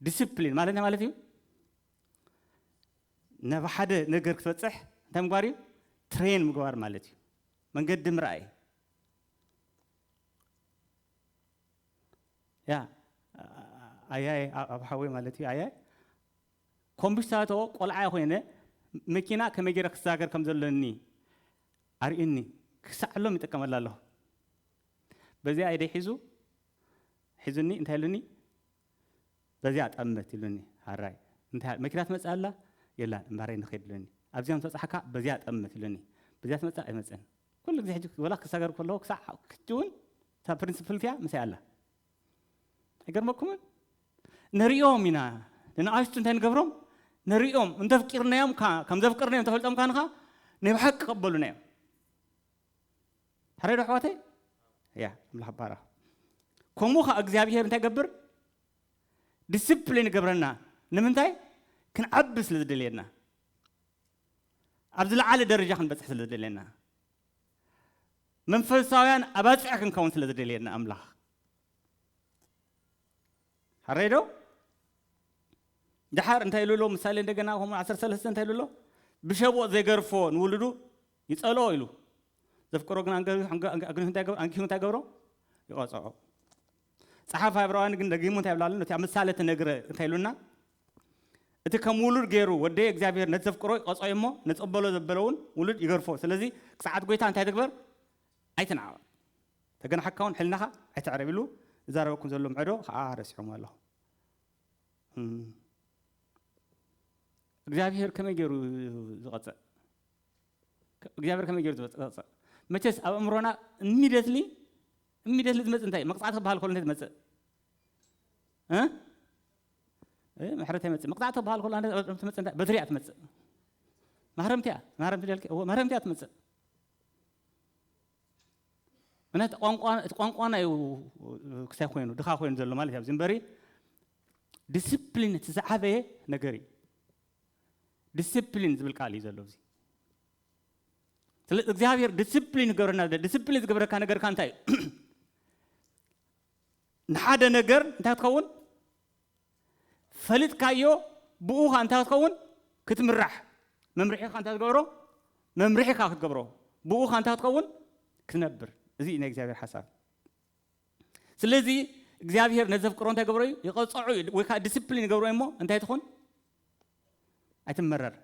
ድስፕሊን ማለት እንታይ ማለት እዩ ናብ ሓደ ነገር ክትበፅሕ እንታይ ምግባር እዩ ትሬን ምግባር ማለት እዩ መንገዲ ምርኣይ ያ ኣያየ ኣብ ሓወይ ማለት እዩ ኣያይ ኮምብሽታቶ ቆልዓ ኮይነ መኪና ከመይ ገይረ ክሳገር ከም ዘለኒ ኣርእዩኒ ክሳዕ ሎም ይጥቀመላ ኣለኹ በዚኣ ኢደይ ሒዙ ሒዙኒ እንታይ ኢሉኒ በዚኣ ጠመት ኢሉኒ ሃራይ እንታይ መኪና ትመጽእ ኣላ የላን እምባረይ ንኸይድ ኢሉኒ ኣብዚኣ ምስ በጻሕካ በዚኣ ጠመት ኢሉኒ በዚኣ ትመጽእ ኣይመጽእን ኩሉ ግዜ ሕጂ ወላ ክሳገር ከለኹ ክሳዕ ክጅውን እታ ፕሪንስፕል እቲኣ ምሳይ ኣላ ኣይገርመኩምን ንርእዮም ኢና ንንኣሽቱ እንታይ ንገብሮም ንርእዮም እንተፍቂርናዮም ከዓ ከም ዘፍቅርናዮም እንተፈልጦም ካን ከዓ ናይ ብሓቂ ቀበሉና እዮም ሕረዶ ኣሕዋተይ እያ ኣምላኽ ባራ ከምኡ ከዓ እግዚኣብሄር እንታይ ገብር ዲስፕሊን ይገብረና ንምንታይ ክንዓቢ ስለ ዝደልየና ኣብ ዝለዓለ ደረጃ ክንበፅሕ ስለ ዝደልየና መንፈሳውያን ኣባጽዕ ክንከውን ስለ ዝደልየና ኣምላኽ ሓረይ ዶ ድሓር እንታይ ኢሉ ኣሎ ምሳሌ እንደገና ከምኡ ዓሰርተ ሰለስተ እንታይ ኢሉ ኣሎ ብሸቦ ዘይገርፎ ንውልዱ ይጸልኦ ኢሉ ዘፍቅሮ ግን ኣንጊሁ እንታይ ገብሮ ይቐጽዖ ጸሓፋይ ዕብራውያን ግን ደጊሙ እንታይ ይብላ ኣሎ? ነቲ ኣብ ምሳሌ እተነግረ እንታይ ኢሉና? እቲ ከም ውሉድ ገይሩ ወደየ እግዚኣብሄር ነቲ ዘፍቅሮ ይቐጽዖ እዩ እሞ፣ ነጸበሎ ዘበለ እውን ውሉድ ይገርፎ። ስለዚ ቅጽዓት ጐይታ እንታይ ትግበር? ኣይትንዓቕ። ተገናሕካ እውን ሕልናኻ ኣይተዕረብ ኢሉ ዝዛረበኩም ዘሎ ምዕዶ ኸኣ ረሲዖሞ ኣሎ። እም፣ እግዚኣብሄር ከመይ ገይሩ እዩ ዝቐጽዕ? እግዚኣብሄር ከመይ ገይሩ እዩ ዝቐጽዕ? መቸስ ኣብ ኣእምሮና ኢሚድየትሊ እሚደ ስለ ዝመጽእ እንታይ እዩ መቅጻዕቲ ክበሃል ከሎ እንታይ ዝመጽእ ምሕረት ኣይመጽእ መቅጻዕቲ ክበሃል ከሎ ትመጽእ እንታይ በትሪ እያ ትመጽእ ማህረምቲ እያ ማህረምቲ ደልኪ እዎ ማህረምቲ እያ ትመጽእ ምክንያቱ እቲ ቋንቋና እዩ ክሳይ ኮይኑ ድኻ ኮይኑ ዘሎ ማለት እዩ ኣብዚ እምበሪ ዲስፕሊን እቲ ዝዓበየ ነገር እዩ ዲስፕሊን ዝብል ቃል እዩ ዘሎ እዚ ስለ እግዚኣብሔር ዲስፕሊን ይገብረና ዘሎ ዲስፕሊን ዝገብረካ ነገርካ እንታይ እዩ ንሓደ ነገር እንታይ ክትከውን ፈሊጥካዮ ብኡ ኸ እንታይ ክትከውን ክትምራሕ መምርሒኻ እንታይ ትገብሮ መምርሒኻ ክትገብሮ ብኡ ኸ እንታይ ክትከውን ክትነብር እዚ እዩ ናይ እግዚኣብሔር ሓሳብ ስለዚ እግዚኣብሔር ነዘፍቅሮ እንታይ ገብሮ እዩ ይቐፀዑ እዩ ወይ ከዓ ዲስፕሊን ይገብሮ እሞ እንታይ ትኹን ኣይትመረር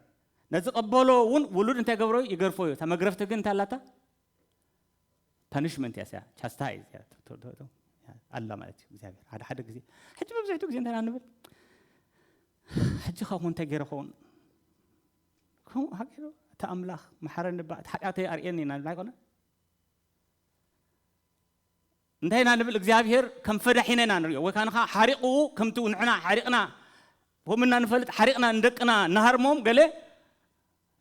ነዚ ቀበሎ ውን ውሉድ እንታይ ገብሮ ይገርፎ እዩ እታ መግረፍቲ ግን እንታይ ኣላታ ፓኒሽመንት እያ ስያ ቻስታይ ኣላ ማለት እዩ እግዚኣብሔር ሓደ ሓደ ግዜ ሕጂ መብዛሕትኡ ግዜ እንታይ ንብል ሕጂ ካብኡ እንታይ ገይረ ኸውን ከምኡ ሃገሩ እቲ ኣምላኽ መሓረኒ ባ እቲ ሓጢኣተይ ኣርእየኒ ኢና ንብል ኣይኮነ እንታይ ኢና ንብል እግዚኣብሄር ከም ፈዳሒና ኢና ንሪኦ ወይ ካንኻ ሓሪቑኡ ከምቱ ንሕና ሓሪቕና ከምኡ እና ንፈልጥ ሓሪቕና ንደቅና ንሃርሞም ገለ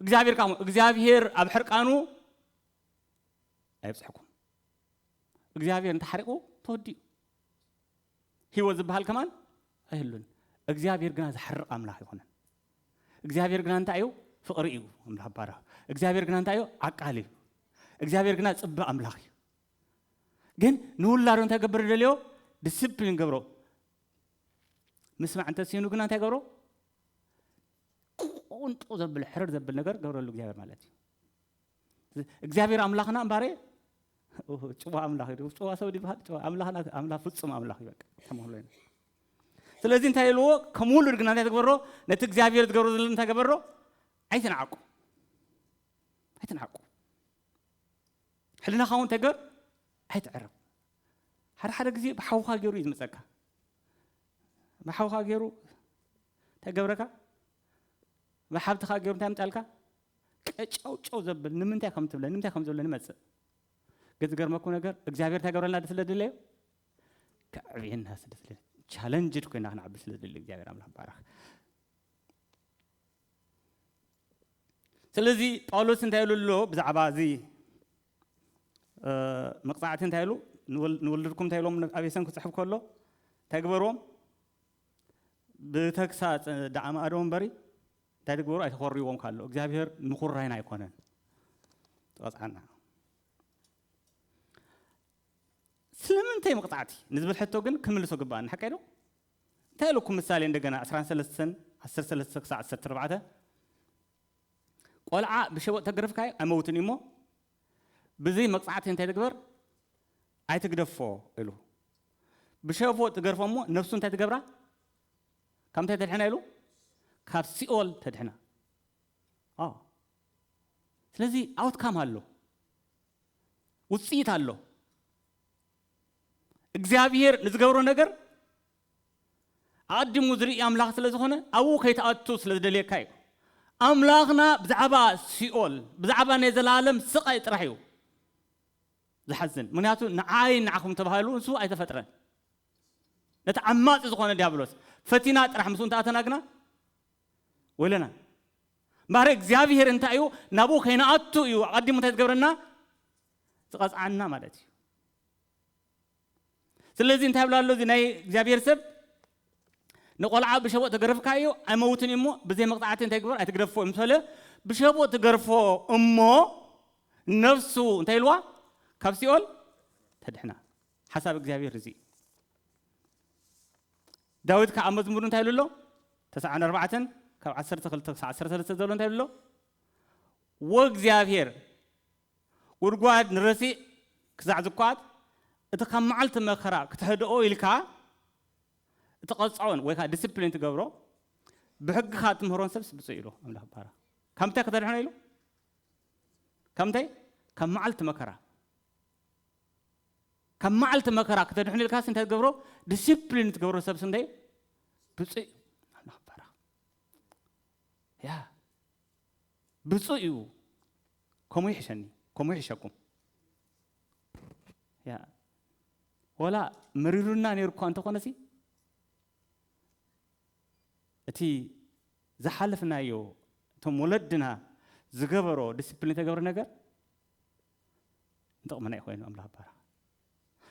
እግዚኣብሄር ካም እግዚኣብሄር ኣብ ሕርቃኑ ኣይብጽሕኩም እግዚኣብሄር እንተሓሪቑ ተወዲኡ ህይወት ዝበሃል ከማን ኣይህሉን እግዚኣብሄር ግና ዝሓርቕ ኣምላኽ ይኹነን እግዚኣብሄር ግና እንታይ እዩ ፍቕሪ እዩ ኣምላኽ ባራ እግዚኣብሄር ግና እንታይ እዩ ዓቃል እዩ እግዚኣብሄር ግና ጽበ ኣምላኽ እዩ ግን ንውላዶ እንታይ ገብር ደልዮ ዲስፕሊን ገብሮ ምስማዕ እንተሲኑ ግና እንታይ ገብሮ ቁንጡ ዘብል ሕርር ዘብል ነገር ገብረሉ እግዚኣብሔር ማለት እዩ እግዚኣብሔር ኣምላኽና እምባረ ጭዋ ኣምላኽ እዩ ጭዋ ሰብ ድበሃል ጭዋ ኣምላኽና ኣምላኽ ፍጹም ኣምላኽ እዩ በቃ ተመህሎ ኢና ስለዚ እንታይ ኢልዎ ከም ውሉድ ግና እንታይ ትግበሮ ነቲ እግዚኣብሔር ዝገብሮ ዘሎ እንታይ ገበሮ ኣይትንዓቁ ኣይትንዓቁ ሕልናኻ እውን ተገር ኣይትዕረብ ሓደ ሓደ ግዜ ብሓውኻ ገይሩ እዩ ዝመፀካ ብሓውኻ ገይሩ እንታይ ገብረካ ብሓብትኻ ገይሩ እንታይ ምጣልካ ቀጫውጨው ዘብል ንምንታይ ከም ትብለ ንምንታይ ከም ዝብለ ንመፅእ ግን ዝገርመኩ ነገር እግዚኣብሔር እንታይ ገብረልና ድ ስለ ድለዮ ከዕብየና ስለ ድለ ቻለንጅድ ኮይና ክንዓቢ ስለ ዝደሊ እግዚኣብሔር ኣምላኽ ባረኽ ስለዚ ጳውሎስ እንታይ ኢሉ ኣሎ ብዛዕባ እዚ መቕጻዕቲ እንታይ ኢሉ ንወለድኩም እንታይ ኢሎም ኣብ ኤሰን ክጽሕፍ ከሎ እንታይ ግበርዎም ብተግሳጽ ደኣ ማእዶ እምበሪ እንታይ ድግበሩ ኣይተኾርይዎም ካሎ እግዚኣብሄር ምኹራይና ኣይኮነን ትቐፅዓና ስለምንታይ መቕፃዕቲ ንዝብል ሕቶ ግን ክምልሶ ግባኣኒ ሓቀይ ዶ እንታይ ኢለኩም ምሳሌ እንደገና ዕስራን ሰለስተን ዓሰርተ ሰለስተ ክሳዕ ዓሰርተ ኣርባዕተ ቆልዓ ብሸበጥ ተገርፍካዮ ኣይመውትን እዩ እሞ ብዘይ መቅጻዕቲ እንታይ ትግበር ኣይትግደፎ ኢሉ ብሸቦጥ ትገርፎ እሞ ነፍሱ እንታይ ትገብራ ካብ እንታይ ተድሕና ኢሉ ካብ ሲኦል ተድሕና አዎ ስለዚህ አውትካም ኣሎ ውጽኢት ኣሎ እግዚኣብሄር ንዝገብሮ ነገር ኣቐዲሙ ዝርኢ ኣምላኽ ስለ ዝኾነ ኣብኡ ከይትኣቱ ስለ ዝደልየካ እዩ። ኣምላኽና ብዛዕባ ሲኦል ብዛዕባ ናይ ዘላለም ስቓይ ጥራሕ እዩ ዝሓዝን ምክንያቱ ንዓይን ንዓኹም ተባሂሉ ንሱ ኣይተፈጥረን። ነቲ ዓማጺ ዝኾነ ዲያብሎስ ፈቲና ጥራሕ ምስኡ እንተኣተና ግና ወይለና እምበኣር እግዚኣብሄር እንታይ እዩ ናብኡ ከይንኣቱ እዩ ኣቐዲሙ እንታይ ዝገብረና ዝቐጽዓና ማለት እዩ ስለዚ እንታይ ብላ ኣሎ እዚ ናይ እግዚኣብሔር ሰብ ንቆልዓ ብሸቦጥ ተገረፍካዮ ኣይመውትን እዩ እሞ ብዘይ መቕፃዕቲ እንታይ ግበር ኣይትግደፎ እዩ ምስ በለ ብሸቦጥ ትገርፎ እሞ ነፍሱ እንታይ ኢልዋ ካብ ሲኦል ተድሕና ሓሳብ እግዚኣብሔር እዚ ዳዊት ከዓ መዝሙር እንታይ ኢሉ ኣሎ ተስዓን ኣርባዕተን ካብ ዓሰርተ ክልተ ክሳዕ ዓሰርተ ሰለስተ ዘሎ እንታይ ኢሉ ኣሎ ወእግዚኣብሔር ጉድጓድ ንረሲእ ክሳዕ ዝኳት እቲ ካብ መዓልቲ መከራ ክትሕድኦ ኢልካ እትቐጽዖን ወይ ከኣ ዲሲፕሊን ትገብሮ ብሕግኻ እትምህሮን ሰብስ ብጹእ ኢሉ ኣምላኽ ባራ ካብ ምንታይ ከተድሕኖ ኢሉ ካብ ምንታይ ካብ መዓልቲ መከራ ካብ መዓልቲ መከራ ክተድሕኑ ኢልካ ስንታይ ትገብሮ ዲሲፕሊን ትገብሮ ሰብ ስንታይ ብፅእ ኣምላኽ ባረኽ ያ ብጹእ እዩ ከምኡ ይሕሸኒ ከምኡ ይሕሸኩም ያ ወላ መሪሩና ነይሩ እኳ እንተኾነሲ እቲ ዝሓለፍናዮ እቶም ወለድና ዝገበሮ ዲስፕሊን ተገብረ ነገር ንጥቕምና እዩ ኮይኑ ኣምላኽ ባራ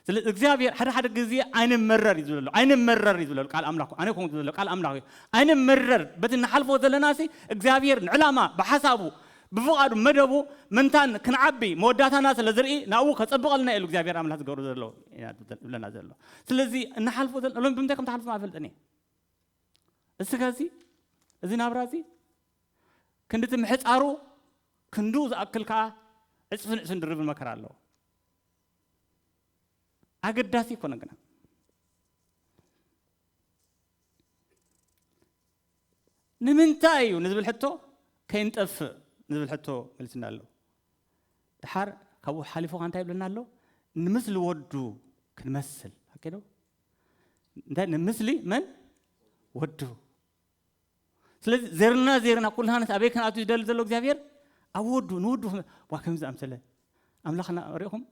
ስለዚ እግዚኣብሔር ሓደ ሓደ ግዜ ኣይንመረር እዩ ዝብለሉ ኣይንመረር እዩ ዝብለሉ ቃል ኣምላኩ ኣነ ኮንኩ ዝብለሉ ቃል ኣምላኩ እዩ ኣይንመረር በቲ ንሓልፎ ዘለና ሲ እግዚኣብሔር ንዕላማ ብሓሳቡ ብፍቓዱ መደቡ ምንታን ክንዓቢ መወዳእታና ስለ ዝርኢ ናብኡ ከጸብቐልና ኢሉ እግዚኣብሔር ኣምላኽ ዝገብሮ ዘሎ ይብለና ዘሎ ስለዚ እንሓልፎ ዘለና ሎሚ ብምንታይ ከም ትሓልፎ ኣይፈልጥን እየ እስከ እዚ እዚ ናብራ እዚ ክንዲ እቲ ምሕጻሩ ክንዱ ዝኣክል ከዓ ዕጽፍን ዕስን ድርብን መከራ ኣለዎ ኣገዳሲ ኣይኮነ ግና ንምንታይ እዩ ንዝብል ሕቶ ከይንጠፍእ ንዝብል ሕቶ መልስና ኣሎ ድሓር ካብኡ ሓሊፉ ካ እንታይ ይብለና ኣሎ ንምስሊ ወዱ ክንመስል ኣኪዶ እንታይ ንምስሊ መን ወዱ ስለዚ ዘርና ዘርና ኩልሃንስ ኣበይ ክንኣቱ ዝደሊ ዘሎ እግዚኣብሔር ኣብ ወዱ ንወዱ ዋ ከምዚ ኣምሰለ ኣምላኽና ሪእኹም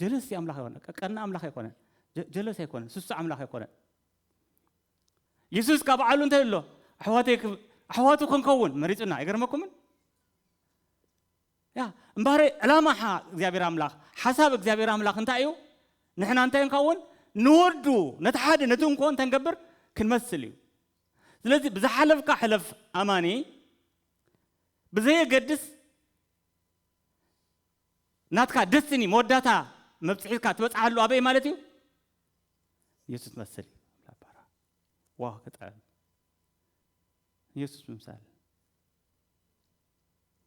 ጀለስ ኣምላኽ ኣይኮነ ቀና ኣምላኽ ኣይኮነ ጀለስ ኣይኮነ ስሱ ኣምላኽ ኣይኮነ የሱስ ካብ ባዕሉ እንታይ ኣሎ ኣሕዋተይ ኣሕዋቱ ክንከውን መሪፁና ኣይገርመኩምን ያ እምበኣረይ ዕላማ እግዚኣብሔር ኣምላኽ ሓሳብ እግዚኣብሔር ኣምላኽ እንታይ እዩ ንሕና እንታይ ንኸውን ንወዱ ነቲ ሓደ ነቲ እንኮ እንታይ ንገብር ክንመስል እዩ ስለዚ ብዝሓለፍካ ሕለፍ ኣማኒ ብዘየገድስ ናትካ ደስኒ መወዳታ መብፅሒትካ ትበፅሓሉ ኣበይ ማለት እዩ ኢየሱስ መስል ላባራ ዋው ክጥዕም ኢየሱስ ምምሳል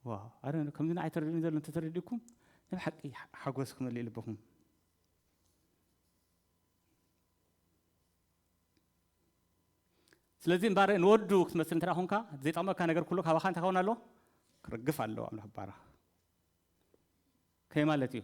ዋው ኣረ ከምዚ ንዓይ ተረድኡኒ ዘሎ እንተተረዲእኩም ናይ ሓቂ ሓጎስ ክመልእ ልብኹም ስለዚ እምባረ ንወዱ ክትመስል እንተ ኮንካ ዘይጠቕመካ ነገር ኩሉ ካባኻ እንታይ ከውን ኣለዎ ክርግፍ ኣለዎ ኣምላኽ ባራ ከይ ማለት እዩ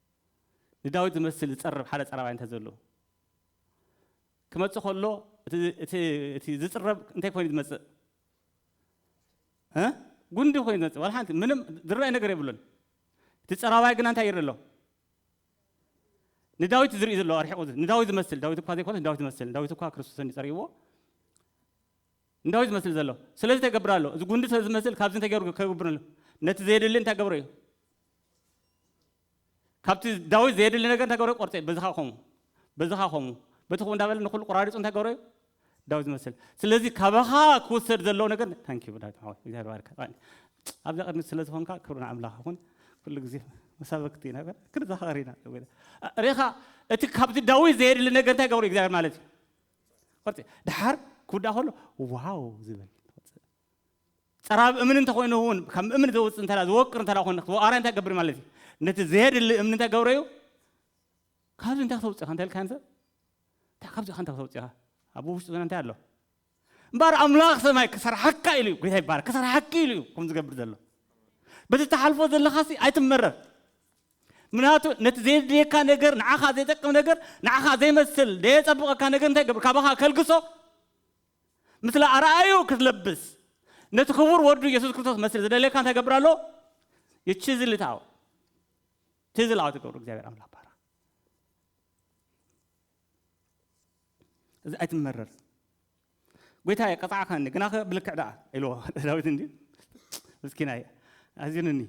ንዳዊት ዝመስል ዝጸርብ ሓደ ጸራባይ እንተ ዘሎ ክመጽእ ከሎ እቲ ዝጽረብ እንታይ ኮይኑ ዝመጽእ ጉንዲ ኮይኑ ዝመጽእ ዋላ ሓንቲ ምንም ዝረኣይ ነገር የብሉን እቲ ጸራባይ ግና እንታይ ይርኢ ኣሎ ንዳዊት ዝርኢ ዘሎ ኣርሒቑ ንዳዊት ዝመስል ዳዊት እኳ ዘይኮነስ ንዳዊት ዝመስል ዳዊት እኳ ክርስቶስ እንዲጸሪዎ እንታዩ ዝመስል ዘሎ ስለዚ ተገብር ኣሎ እዚ ጉንዲ ሰለ ዝመስል ካብዚ እንተ ገሩ ከገብር ኣሎ ነቲ ዘየድሊ እንታ ገብረ እዩ ካብቲ ዳዊት ዘየድሊ ነገር እንታ ገብረ ቆርፀ በዝኻ ኮሙ በዝኻ ኮሙ በቲ ኮሙ እንዳበለ ንኩሉ ቆራሪፁ እንታ ገብረ እዩ ዳዊት ዝመስል ስለዚ ካባኻ ክውሰድ ዘለዎ ነገር ታንኪ ዳዊት ሓወይ እግዚኣብሔር ባርካ ኣብዛ ቅድሚ ስለ ዝኾንካ ክብሪ ንኣምላኽ ይኹን ኩሉ ግዜ መሳበክቲ ኢና ክንዘኻኸር ኢና ርኢኻ እቲ ካብዚ ዳዊት ዘየድሊ ነገር እንታይ ገብሩ እግዚኣብሔር ማለት እዩ ቅርጺ ድሓር ክውዳእ ከሎ ዋው ዝብል ትወጽእ ጸራብ እምኒ እንተኮይኑ እውን ከም እምኒ ዘውጽእ እንተ ዝወቅር እንተ ኮይኑ ክወቃራ እንታይ ገብር ማለት እዩ ነቲ ዘየድሊ እምኒ እንታይ ገብረ እዩ ካብዚ እንታይ ክተውፅእ ኢኻ እንተልካ ንሰብ እንታይ ካብዚ እንታይ ክተውፅእ ኢኻ ኣብ ውሽጡ ዝነ እንታይ ኣሎ እምበር ኣምላኽ ሰማይ ክሰርሓካ ኢሉ እዩ ጎይታ ይባረክ ክሰርሓኪ ኢሉ እዩ ከም ዝገብር ዘሎ በዚ ተሓልፎ ዘለኻሲ ኣይትመረር ምክንያቱ ነቲ ዘየድልየካ ነገር ንዓኻ ዘይጠቅም ነገር ንዓኻ ዘይመስል ደየጸብቐካ ነገር እንታይ ገብር ካባኻ ከልግሶ ምስለ ኣርኣዩ ክትለብስ ነቲ ክቡር ወዱ የሱስ ክርስቶስ መስል ዝደለካ እንታይ ገብር ኣሎ ይችዝልታው ትዝላው ትገብሩ እግዚኣብሔር ኣምላክ ባረኽ እዚ ኣይትመረር ጐይታየ፣ ቀጻዕካኒ፣ ግናኸ ብልክዕ ደኣ ኢልዎ። ዳዊት እንድዩ ምስኪናይ ኣዚኑኒ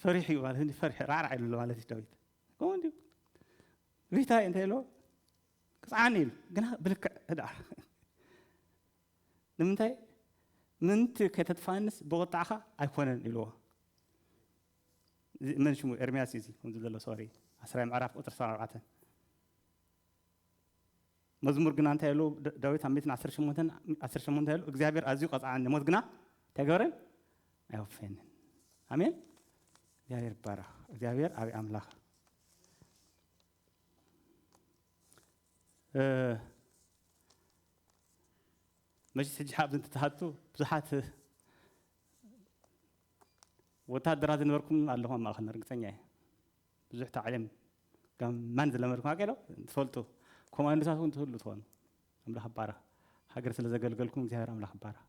ፈሪሑ'ዩ ማለት እንድዩ ፈሪሑ ራዕራዕ ኢሉ ኣሎ ማለት እዩ ዳዊት። ከምኡ እንድዩ ጐይታየ እንታይ ኢልዎ? ቅጽዓኒ ኢሉ፣ ግና ብልክዕ ደኣ ንምንታይ ምንቲ ከተጥፍኣንስ ብቑጥዓኻ ኣይኮነን ኢልዎ። እዚ መን ሽሙ ኤርምያስ እዩ እዚ ከምዚ ዘሎ ሶሪ ዓስራይ ምዕራፍ ቁጽሪ ዕስራን ኣርባዕተን መዝሙር ግና እንታይ ኢሉ ዳዊት ኣብ ሚእትን ዓሰርተ ሸሞንተን ዓሰርተ ሸሞንተ እንታይ ኢሉ እግዚኣብሔር ኣዝዩ ቀጽዓኒ ሞት ግና እንታይ ገበረ ኣይወፈየንን ኣሜን እግዚኣብሔር ይባረኽ እግዚኣብሔር ዓብዪ ኣምላኽ እ፣ መቼስ ሕጂ ኣብዚ እንትትሃቱ ብዙሓት ወታደራት ዝነበርኩም ኣለኹም ኣብ ማእኸልና ርግፀኛ እየ ብዙሕ ታዕሊም ጋማን ዝለመድኩም ኣገ ዶ ትፈልጡ ኮማንዶታት እውን ትህሉ ትኾኑ ኣምላኽ ባረኽ ሃገር ስለ ዘገልገልኩም እግዚኣብሔር ኣምላኽ ባረኽ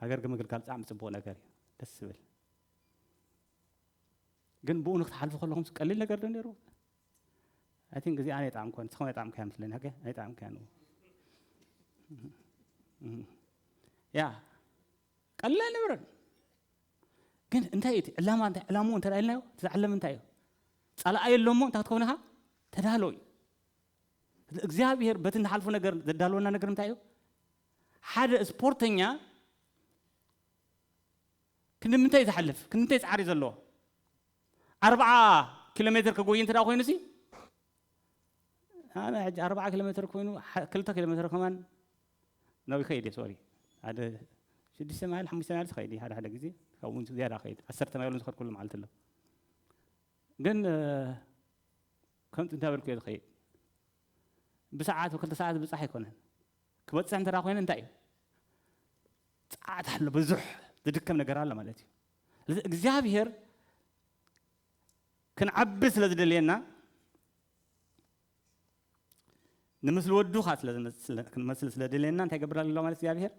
ሃገር ገመግልጋል ጣዕሚ ጽቡቕ ነገር እዩ ደስ ዝብል ግን ብኡ ንክትሓልፉ ከለኹም ቀሊል ነገር ዶ ነይሩ ኣይ ቲንክ እዚኣ ናይ ጣዕሚ ኮነ ንስኹም ናይ ጣዕሚ ከያ ምስለኒ ሃገ ናይ ጣዕሚ ከያ ንኡ ያ ቀሊል ኣይነበረን ግን እንታይ እዩ እቲ ዕላማ እንታይ ዕላምኡ እንተ ኢልናዮ እቲ ዝዓለመ እንታይ እዩ ፃላኣ የሎ እሞ እንታይ ክትከውን ኢኻ ተዳሎ እዩ እግዚኣብሄር በቲ ንሓልፎ ነገር ዘዳለወና ነገር እንታይ እዩ ሓደ ስፖርተኛ ክንምንታይ ዝሓልፍ ክንምንታይ ፃዕሪ ዘለዎ ኣርብዓ ኪሎ ሜትር ክጎይ እንተ ኮይኑ ሲ ኣነ ሕጂ ኣርብዓ ኪሎ ሜትር ኮይኑ ክልተ ኪሎ ሜትር ከማን ነዊሕ ይኸይድ እዩ ሶሪ ሓደ ሽዱሽተ ማይል ሓሙሽተ ማይልስ ይኸይድ እዩ ሓደ ሓደ ግዜ ካብኡ እውን ዝያዳ ይኸይድ ዓሰርተ ማይል ዝኸድኩሉ መዓልቲ ኣሎ ግን ከምቲ እንታይ በልኩ እየ ዝኸይድ ብሰዓት ክልተ ሰዓት ብፃሕ ኣይኮነን ክበፅሕ እንተ ኮይነ እንታይ እዩ ፀዓት ኣሎ ብዙሕ ዝድከም ነገር ኣሎ ማለት እዩ ስለዚ እግዚኣብሄር ክንዓቢ ስለ ዝደልየና ንምስሊ ወዱ ከኣ ስለ ዝመስል ክንመስል ስለ ደልየና እንታይ ይገብር ኣሎ ማለት እግዚኣብሄር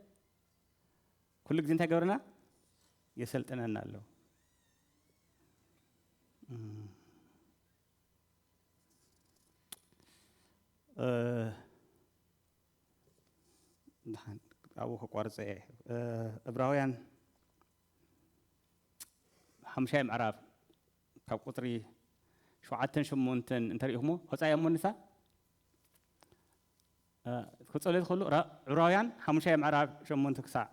ኩሉ ግዜ እንታይ ይገብረና የሰልጥነና ኣሎ ድሓን ኣብኡ ከቋርፀ እየ እብራውያን ሓሙሻይ ምዕራፍ ካብ ቁጽሪ ሸውዓተን ሸሞንተን እንተሪኢኹሞ ኣውጻኣዮ እሞ ንሳ ክጸልዩ ዝኽእሉ ዕብራውያን ሓሙሻይ ምዕራፍ ሸሞንተ ክሳዕ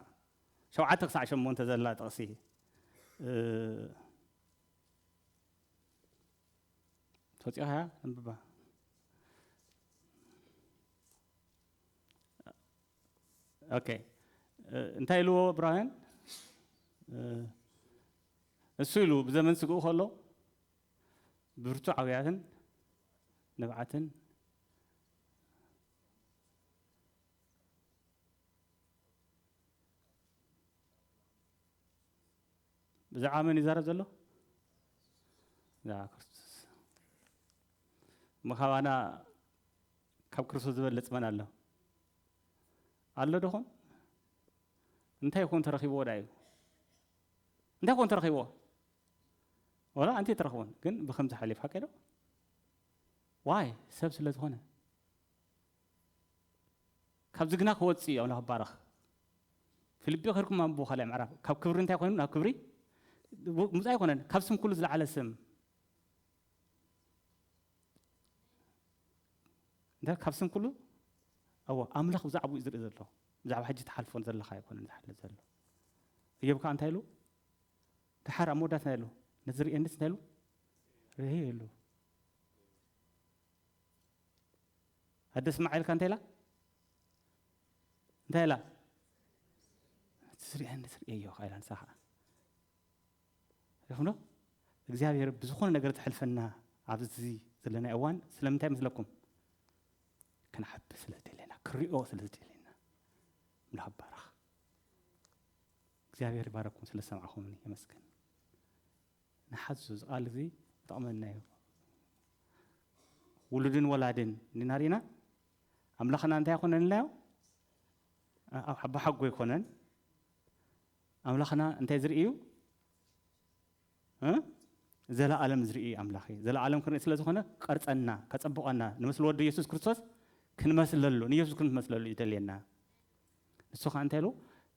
ሸውዓተ ክሳዕ ሸሞንተ ዘላ ጥቕሲ ትወጽኢኻ እያ ኣንብባ ኦኬ እንታይ ኢልዎ እብራውያን እሱ ኢሉ ብዘመን ስግኡ ከሎ ብርቱ ዓውያትን ንብዓትን ብዛዕባ መን ይዛረብ ዘሎ ብዛዕባ ክርስቶስ እሞ ካባና ካብ ክርስቶስ ዝበልጽ መን ኣሎ? ኣሎ ደኹን? እንታይ ኮን ተረኺብዎ ዳዩ? እንታይ ኮን ተረኺብዎ? ወላ ኣንቲ ተረኽቦን ግን ብከምዚ ሓሊፍ ሓቀዶ ዋይ ሰብ ስለ ዝኾነ ካብዚ ግና ክወፅእ እዩ ኣምላኽ ባረኽ ፊልጵ ከርኩም ኣንብቦ ካልኣይ ምዕራፍ ካብ ክብሪ እንታይ ኮይኑ ናብ ክብሪ ምፃ ኣይኮነን ካብ ስም ኩሉ ዝለዓለ ስም እንታይ ካብ ስም ኩሉ ኣዎ ኣምላኽ ብዛዕባኡ እዩ ዝርኢ ዘሎ ብዛዕባ ሕጂ ትሓልፎ ዘለካ ኣይኮነን ዝሓልፍ ዘሎ እዮብ ከዓ እንታይ ኢሉ ድሓር ኣብ መወዳት እንታይ ኢሉ ነዚ ርእየኒስ እንታይ ኢሉ ርህይ ኢሉ ኣደ ስማዓኢልካ እንታይ ኢላ እንታይ ኢላ እቲ ዝርአ ንዝርእየዮ ኢላ ንሳ ከዓ ሪኢኹም ዶ እግዚኣብሄር ብዝኾነ ነገር ዘሕልፈና ኣብዚ ዘለናዮ እዋን ስለምንታይ ይመስለኩም? ክንዓቢ ስለ ዝደለየና ክንሪኦ ስለ ዝደለየና ምላኽ ባረኽ እግዚኣብሄር ይባረኩም ስለ ዝሰማዕኹምኒ የመስግን ንሓዙ እዚ ቃል እዚ ይጠቕመና እዩ ውሉድን ወላድን እንዲና ርኢና ኣምላኽና እንታይ ኣይኮነን ኢልናዮ ኣቦሓጎ ኣይኮነን ኣምላኽና እንታይ ዝርኢ እዩ? ዘለኣለም ዝርኢ ኣምላኽ እዩ። ዘለኣለም ክንርኢ ስለ ዝኾነ ክቐርጸና፣ ከጸብቐና፣ ንምስሊ ወዱ ኢየሱስ ክርስቶስ ክንመስለሉ፣ ንኢየሱስ ክንመስለሉ እዩ ደልየና። ንሱ ከዓ እንታይ ኢሉ?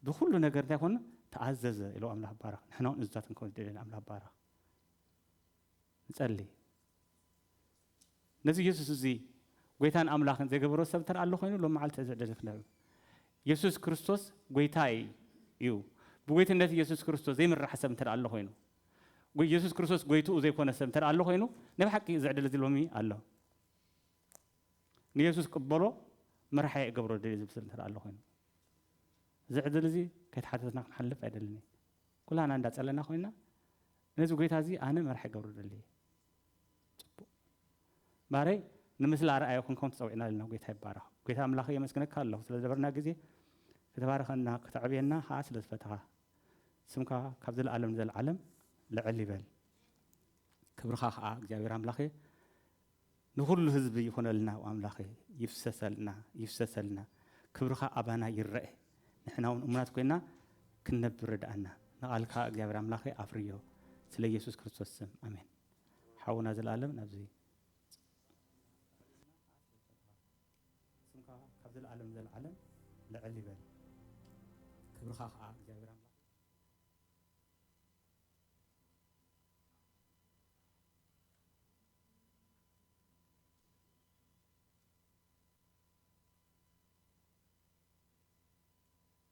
ብኩሉ ነገር እንታይ ኮኑ? ተኣዘዘ ኢሉ ኣምላኽ ባረኽ። ንሕና እውን እዙታት ክንከውን ደልየና ኣምላኽ ባረኽ። ንጸልይ። ነዚ የሱስ እዚ ጎይታን ኣምላኽን ዘይገበሮ ሰብ እንተ ኣሎ ኮይኑ ሎም መዓልቲ እዚ ዕድል ክንህብ እዩ። የሱስ ክርስቶስ ጎይታ እዩ። ብጎይትነት የሱስ ክርስቶስ ዘይምራሕ ሰብ እንተ ኣሎ ኮይኑ ጎይ የሱስ ክርስቶስ ጎይትኡ ዘይኮነ ሰብ እንተ ኣሎ ኮይኑ ናይ ብሓቂ እዚ ዕድል እዚ ሎሚ ኣሎ። ንየሱስ ቅበሎ መራሕየ እገብሮ ደልየ ዝብል ሰብ እንተ ኣሎ ኮይኑ እዚ ዕድል እዚ ከይተሓተትና ክንሓልፍ ኣይደልን እየ። ኩላና እንዳጸለና ኮይና ነዚ ጎይታ እዚ ኣነ መራሒ እገብሮ ደልየ ጽቡቅ ማረይ ንምስሊ ኣርኣያ ኮንኩም ተጸዊዕና ኣለና ጎይታ ይባረኽ። ጎይታ ኣምላኸይ የመስግነካ ኣለኹ ስለ ዝነበርና ግዜ ክትባርኸና ከተዕብየና ከኣ ስለ ዝፈተኻ ስምካ ካብ ዘለኣለም ንዘለዓለም ልዕል ይበል ክብርኻ ከኣ እግዚኣብሔር ኣምላኸይ ንኹሉ ህዝቢ ይኹነልና ኣምላኸይ ይፍሰሰልና ይፍሰሰልና ክብርኻ ኣባና ይረኤ ንሕና እውን እሙናት ኮይና ክንነብር ርድኣና ንቓልካ እግዚኣብሔር ኣምላኸይ ኣፍርዮ ስለ ኢየሱስ ክርስቶስ ስም ኣሜን። ሓውና ዘልኣለም ናብዚ ጽቡቕ ስራሕ ኣለና ከኣ ኣስልጠካ ስምካ ካብ ዘልኣለም ዘልዓለም ልዕል ይበል ክብርካ ከኣ እግዚኣብሔር ኣምላክ